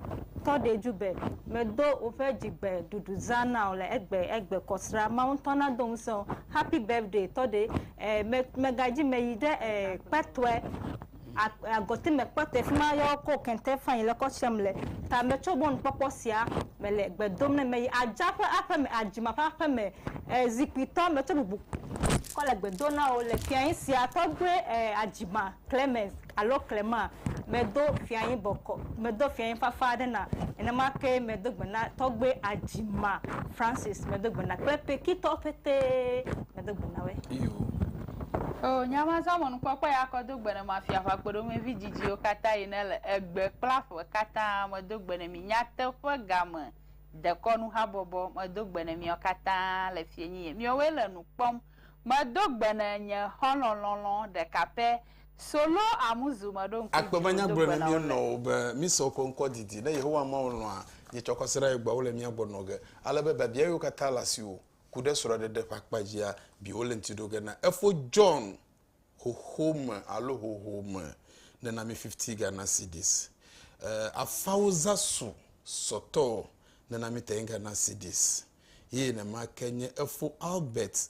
tɔ ɖe ju be, me do oƒe dzigbe ɖuɖu zã na o le egbe egbe kɔ sra Mawu ŋutɔ na do ŋusẽ o. Happy birthday tɔ ɖe e me me ga dzi me yi ɖe e kpɛtɔe a agɔti me kpɛtɔe fima yɔ ko kɛntɛ fain le kɔ tsem le ta me tso mɔnu kpɔkpɔ sia me le gbe dom ne me yi adza ƒe aƒe me adzima ƒe aƒe me e zikpui tɔ me tso bubu kɔ le gbe do na o le fiae sia tɔ ɖe e adzima Clemens alo klema, medo fianyi bɔkɔ, medo fianyi fafa aɖe na. Nenema kee medo gbe na Tɔgbe Ajima Francis, medo gbe na kple Pekitɔwo ƒetee, medo gbe na woe. Iyo. Oo, nye amazã me nukpɔkpɔ ya kɔ do gbe ne mafia ƒe akpoɖoŋuivi didiwo katã yi ne le egbe kple aƒe katã, medo gbe ne mi nyateƒe game dekɔnu habɔbɔ, medo gbe ne miawo katã le fienyi ye miɔwoe le nu kpɔm, medo gbe ne nye xɔlɔ̃ lɔlɔ̃ ɖeka pɛ Solo Amuzu meɖoŋku Akpe be nya gblɔe na mía nɔwo be mísɔ woƒe ŋkɔ didi, ne Yehowa Mawu lɔ̃a, nyetsɔ kwasiɖa ye gbɔa, wole mía gbɔ nɔ ge, ale be biabia yiwo katã le asiwò ku ɖe srɔ̃ɖeɖe ƒe akpa dzia, bi wole ŋuti ɖo ge na efo John xoxo me alo hoho me ne na mi fifty Ghana cedis. Eh, afawo za su sɔtɔ ne na mi ten Ghana cedis. Ye nenema ke nye efo Albert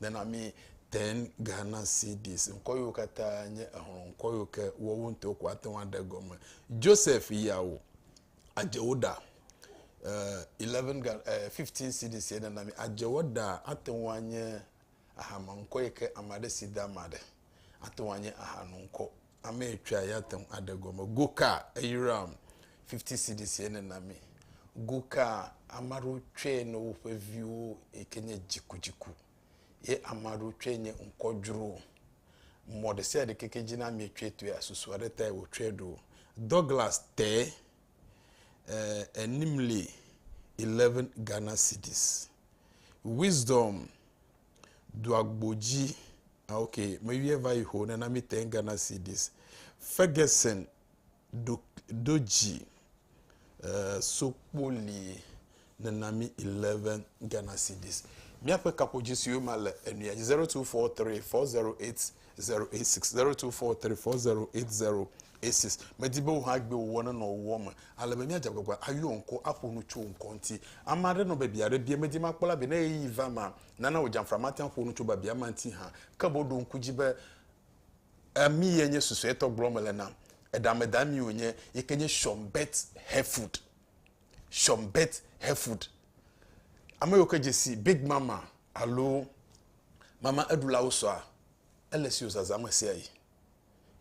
Nana mi ten Ghana cedis. Ŋkɔ yiwo katã nye exlɔ ŋkɔ yiwo ke wowo ŋutɔ ko ate ŋu aɖe gɔme. Joseph yawo adzewo ɖa. Uh, 11 uh, eh, 15 cedis ye nana mi adzewo ɖa ate ŋu anye ahama ŋkɔ yi ke ame aɖe si da ama ɖe. Ate ŋu anye aha ŋkɔ. Ame etɔ̃a ya te ŋu aɖe gɔme. Go ka eyram 50 cedis ene na mi. Go ka ame aɖewo tsɔe ne woƒe viwo yi ke nye dzikudziku ye ame aɖewo tsɔe nye ŋkɔdzro. Mɔ ɖe sia ɖe ke ke dzi na mi tsɔe to ya susu aɖe tae wotsɔe ɖo. Douglas te eh, enim li 11 Ghana cedis. Wisdom doagbodzi Ah, ok, meyɔe va yi ho ne na mi te Ghana CDs. Ferguson do do dzi uh, sokpoli ne na mi 11 Ghana CDs. Míaƒe kaƒodzi siwo ma le enuya dzi 0243 408 086 0243 408 086. Medi be wò hã gbe wòwɔ ne nɔ wòwɔ me. Ale be míadze agbagba ayɔ ŋkɔ aƒo nu tso ŋkɔ ŋuti. Ame aɖe nɔ be bia ɖe bia medi makpɔ la be ne ɣeyiɣi va ma nana wò dzamfra mate ŋu aƒo nu tso biabia ma ŋuti hã. Ke boŋ ɖo ŋku edzi be, Ami ye nye susuetɔ gblɔm mele na? Eɖameda ami wònye, yi ke nye Sean Bert Hayford. Sean Bert Hayford. Ame yiwo ke dze si Big Mama alo Mama Eɖulawo sɔa, ele esi wòzazã ɣesiaɣi.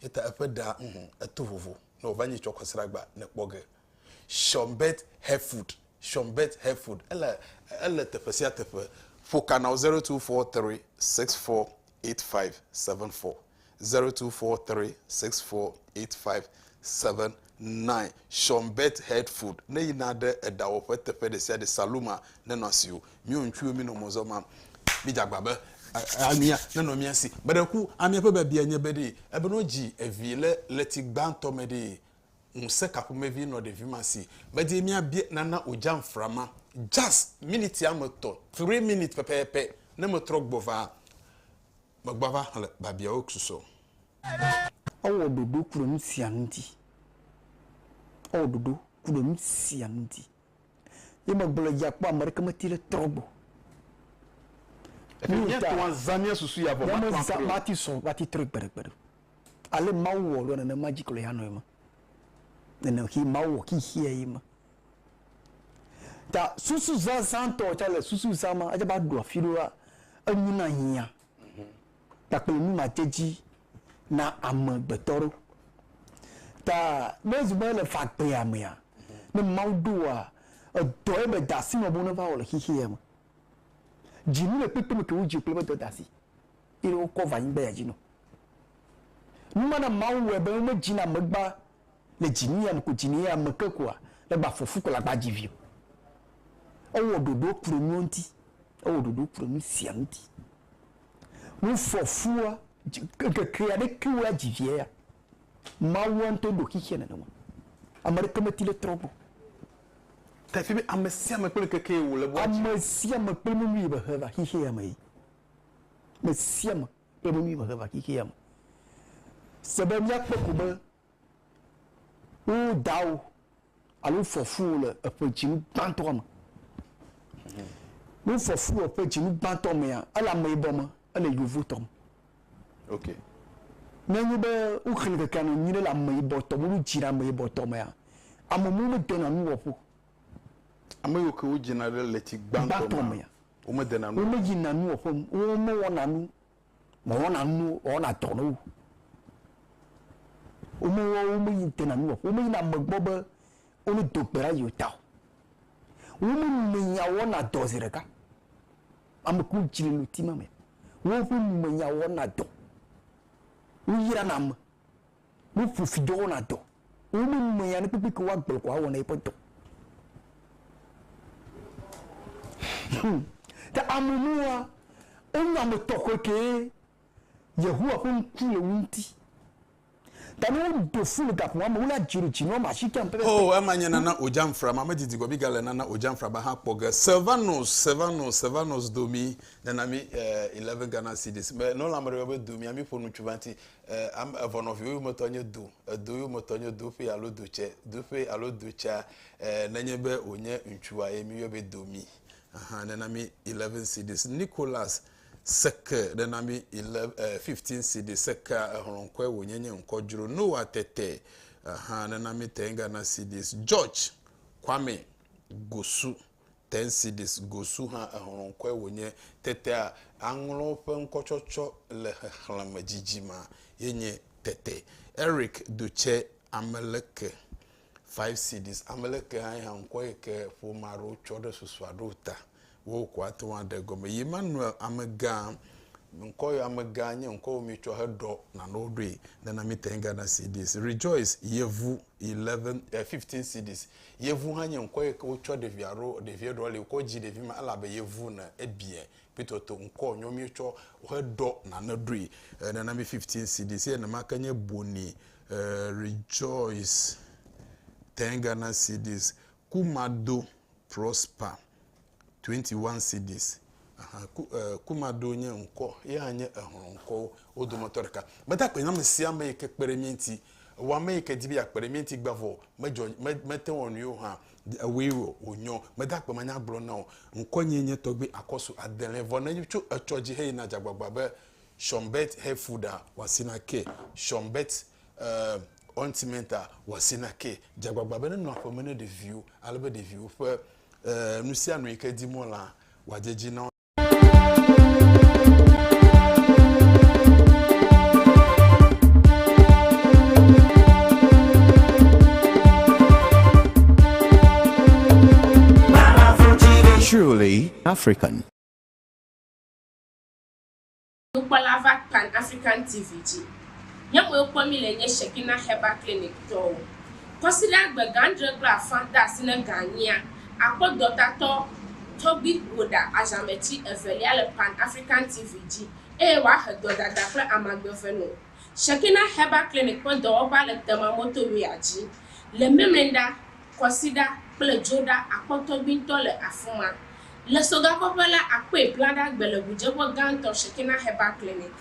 Eya ta eƒe ɖa, ŋhɔ, eto vovo, ne wòva nyi tsɔkɔsragba, nèkpɔ ge. Sean Beth Herford, Sean Beth Herford, ele ele teƒe sia teƒe. Ƒo ka na wo zero two four three six four eight five seven four zero two four three six four eight five seven nine. Sean Beth Herford ne yina ɖe eɖawɔƒe teƒe ɖe sia ɖe saluma nenɔ asi o. Mí wo ŋutsuwo mí nɔ mɔ zɔm ma mí dze agba be amia nenɔ mía si. Meɖe ku amia ƒe biabia nye be ɖee ebe ne wodzi evi le ɣleti gbãtɔ me ɖee Ŋusẽ ka ƒomevi nɔ ɖevi ma si medie míabia nana o dzam fra ma? Jas. Miniti ame etɔ̃, three minutes, pɛpɛpɛ ne metrɔ gbɔ va, megbɔ ava xlẽ biabiawo susɔ. Ewɔ ɖoɖo ku ɖe nu sia nu ŋuti. Ewɔ ɖoɖo ku ɖe nu sia nu ŋuti. Ye megblɔ le dzia kpɔ ame aɖeke meti ɖe trɔ gbɔ. Eƒe míatɔa zã mía susu ya vɔ mate ŋu atrɔe o. Mati sɔ, mati trɔe gbeɖegbeɖe o. Ale Mawu wɔ ɖoa nenema dzi kplɔe hanɔe me. Nene xee Mawu wɔ xexeɛ ye me. Ta susu zazã tɔ tsa le susu zã ma atsa va ɖo afi ɖoa enu na hiã kpakple nu ma tse dzi na ame gbetɔ ɖo. Ta ne zu be le fagbea mea, ne Mawu ɖoa edɔ ye be dasi nɔ be wo ne va wɔ le xexeɛ me. Dzi nu le kpekpe me ke wo dzi kple be dɔ dasi. eye wokɔ va anyigba ya dzi nu. Nu ma na Mawu wɔe be womedzina amegba le dzinuya me ko dzi nɛ ame ke ko le gba fɔfu ko le agba dzi vi o. Ewɔ ɖoɖo kple nuwo ŋuti. Ewɔ ɖoɖo kple nu sia ŋuti. Nu fɔfua, ŋkeke aɖe ke wo adzi via ya. Mawua ŋutɔ ɖo xexea nenema. Ame aɖeke meti ɖe trɔ gbɔ. Ta efi be ame sia ame kple ŋkeke yi wòle be woadzi. Ame sia ame kple nu yi be he va xexea me yi. me sia me kple nu nyui va xexea me. Se be míakpɔ ko be wo dawo alo fofowo le eƒe dzinu gbãtɔa me. Ne fofowo le eƒe dzinu gbãtɔ mea, ele ameyibɔ me, ele yevotɔ me. Ok. Ne enye be woxlẽ ŋkekea nɔ nyuie le ameyibɔtɔ me, wodzi ɖe ameyibɔtɔ mea, ame mlɔewo medena nuwɔƒe o. Ame yiwo ke wodzina ɖe ɣleti gbãtɔ mea, Womedena nu. Womedzina nu o ƒe nu. Womewɔna nu. Mewɔna nu ne wowɔna dɔ na wo. Womewɔ, womedena nu o ƒe. Womeyina ame gbɔ be wo ne do gbe ɖa yewo ta o. Womenumenya wɔna dɔ zi ɖeka. Ame kuwo dzi le ŋuti ma me. Woƒe numenya wɔna dɔ. Woyrana ame. Woƒo fi dɔ wɔna dɔ. Womemea nu kpekpe ke woagblɔ ko awɔna yeƒe dɔ. Hum. Ke ame nua, enye ame tɔxɛ kee. Yehowa ƒe ŋku le wo ŋuti. Ta ne wodo flu le gaƒo ma me, wole adzi ɖe dzi nɔ ma si ke ŋu pɛpɛpɛ. Oh, ema nye Nana Ojamfra ma. Medidi gɔme ga le Nana Ojamfra ba hã kpɔ ge. Sylvanus, Sylvanus, Sylvanus do mi nana mi eh, 11 Ghana cedis. Me nɔ la me ɖe be do mi ami ƒo nu tsu va ŋuti. E, ame evɔ nɔviwo yometɔ nye do, edo yometɔ nye doƒe alo dotsɛ, doƒe alo dotsɛa, e, nenye be wònye ŋutsua ye miyɔe be domi. Aha, nena mi 11 cedis. Nicholas, seke, nena mi 11, e, 15 cedis. Sekea, exlɔ̃ ŋkɔe wònye nye ŋkɔ dzro. Noah, tete. Aha, nena mi 10 Ghana cedis. George, Kwame, gosu. Tensidis Gosu hã exlɔŋkɔe wònye. Tetea, aŋlɔ ƒe ŋkɔtsɔtsɔ le xexlẽme dzidzima ye nye Tete. Eric Dutse Ameleke, Fivesidis Ameleke hãe hã ŋkɔ yi ke ƒome aɖewo tsɔ ɖe susua ɖo ta be wokɔ ate ŋu aɖe gɔme. Yemanuel Amegã, ŋkɔ yi Amegã nye ŋkɔ yi womietsɔ heɖɔ nanewo ɖoe. Nana Mitenga Nasidis Rejoice Yevu. 11, 15 cedis. Yevu hã nye ŋkɔ yi ke wotsɔ ɖevi aɖo, ɖevi eɖɔ li wokɔ dzi ɖevi ma ele abe yevu ne ebia kpitoto ŋkɔ nyɔ mi tsɔ he ɖɔ nane ɖoe nana mi 15 cedis ye nema ke nye boni rejoice 10 Ghana cedis kumado prosper Twenty one cedis, ahan, ku, e, Kumado nye ŋkɔ, yehã nye exlɔ ŋkɔwo wo dometɔ ɖeka. Meda akpe na ame sia ame yi ke kpe ɖe mía ŋuti. Ewɔ ame yi ke di be yeakpe ɖe mía ŋuti gbã vɔ, medzɔ, me, mete wɔ nu yewo hã o. Ewɔe wɔ wònyɔ. Meda akpe manyagblɔ na wò. Ŋkɔnyee nye Tɔgbui Akɔsu Adelɛn. Vɔ ne tso etsɔ dzi heyina dzagbagba be Shonbet Hefuda wɔasina ke, Shonbet, e, Ointmenta wɔasina ke, dzagbagba be nenɔ aƒeme ne ɖeviwo, ale be ɖeviwo ƒe. eh, nu sia nu yi ke dim wolea, wòadze edzi na wo. Truly African. Nukpɔla va Pan African TV dzi. Nye mue kpɔ mí le nye Shekinah Herbal Clinic tɔwo. Kɔsiɖagbe gã adre kple afã de asi ne gã enyia akpɔ dɔtatɔ Toby Woda azãmeti evelia le Pan African TV dzi eye wòahe dɔdada kple amagbeve no. Shekinah Herbal Clinic ƒe dɔwɔƒea le Tema Motorway-a dzi le Memenda. kɔsiɖa kple dzoɖa akpɔtɔgbiŋtɔ le afima. Le sogakɔƒe la, akpee blaɖa gbe le ʋudzeƒe gãtɔ Shekinah Herbal Clinic,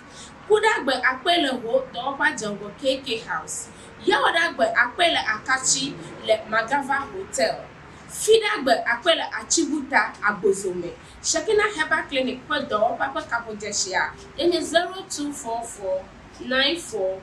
kuɖagbe akpee le ho dɔwɔƒea dzeŋgɔ KK House, yawɔɖagbe akpee le Akatsi le Magava Hotel, fiɖagbe akpee le Atsibuta, Agbozo me. Shekinah Herbal Clinic ƒe dɔwɔƒea ƒe kaƒodzeshia ye nye zero two four four nine four.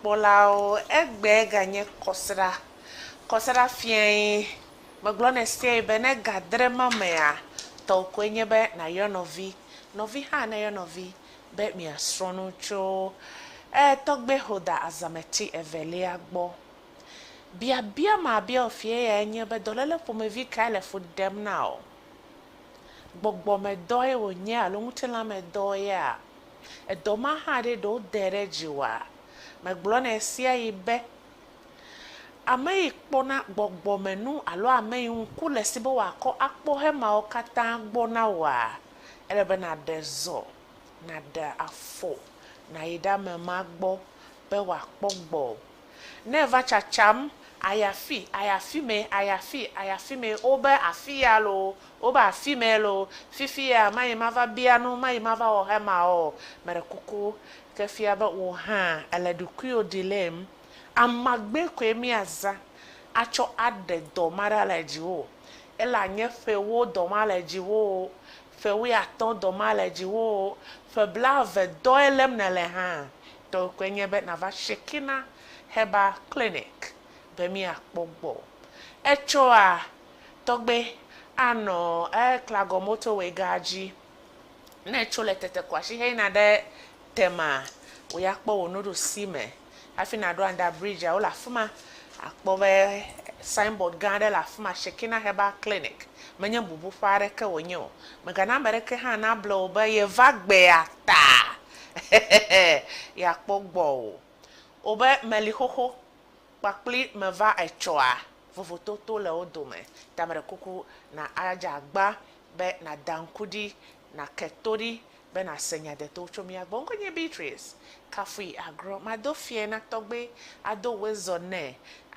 Kpɔlawo, egbee ganye kɔsiɖa. Kɔsiɖa fiae, megblɔ nɛ sɛɛ be ne ga dre ma mea, tɔwò koe nye be nàyɔ nɔvi, nɔvi hã nayɔ nɔvi be miasrɔ̃ nu tso ee tɔgbe Holder Azameti Evelia gbɔ. Biabia mabiawò fie yae nye be dɔléle ƒomevi kae le fu ɖem na wò? gbɔgbɔmedɔe wònye alo ŋutilãmedɔea? Edɔ ma hã ɖe ɖe wodee ɖe dzi oa? Megblɔnɛ ɣesiaɣi be, ame yi kpɔna gbɔgbɔmenu alo ame yi ŋku le esi be wòakɔ akpɔ hemawo katã gbɔ na wòa? Ele be nàɖe zɔ, nàɖe afɔ, nàyi ɖe ame ma gbɔ be wòakpɔ gbɔ. Ne eva tsatsam, ayi afii, ayi afimee, ayi afii, ayi afimee, wobe afiya loo, wobe afimee loo, fifiya mayi mava bia nu, mayi mava wɔ hemaɔ, meɖe kuku, ke fia be wò hã èle ɖokuiwò dilem. Amagbe koe míazã atsɔ aɖe dɔ ma ɖa le dziwò, ele anye ƒe ewo dɔ ma le dziwò o, ƒe wuiatɔ̃ dɔ ma le dziwò o, ƒe blaeve dɔe lém nèle hã, Tɔwòe nye be nàva Shekinah Herbal Clinic be míakpɔ gbɔ. Etsɔa tɔgbe anɔ Klagɔn Motorway Gaa dzi. Ne ètso le Tetekwashi heyina ɖe Tema, wò ya kpɔ wò nuɖusi me hafi nàɖo Under Bridge-a, wole afi ma. Àkpɔ be signboard gã aɖe le afi ma, Shekinah Herbal Clinic. Menye bubuƒe aɖeke wònye o. Mègana ame aɖeke hã nable wò be yeva gbea ta Hehehe yeakpɔ gbɔ o. Wobe meli xoxo kpakpli meva etsɔa vovototo le wo dome ta meɖe kuku na adze agba be na da ŋku ɖi na ke to ɖi be na se nya deto tso mía gbɔ. Ŋkɔe nye Beatrice kafui agrɔ mado fiɛ na tɔgbe ado wezɔ nɛ.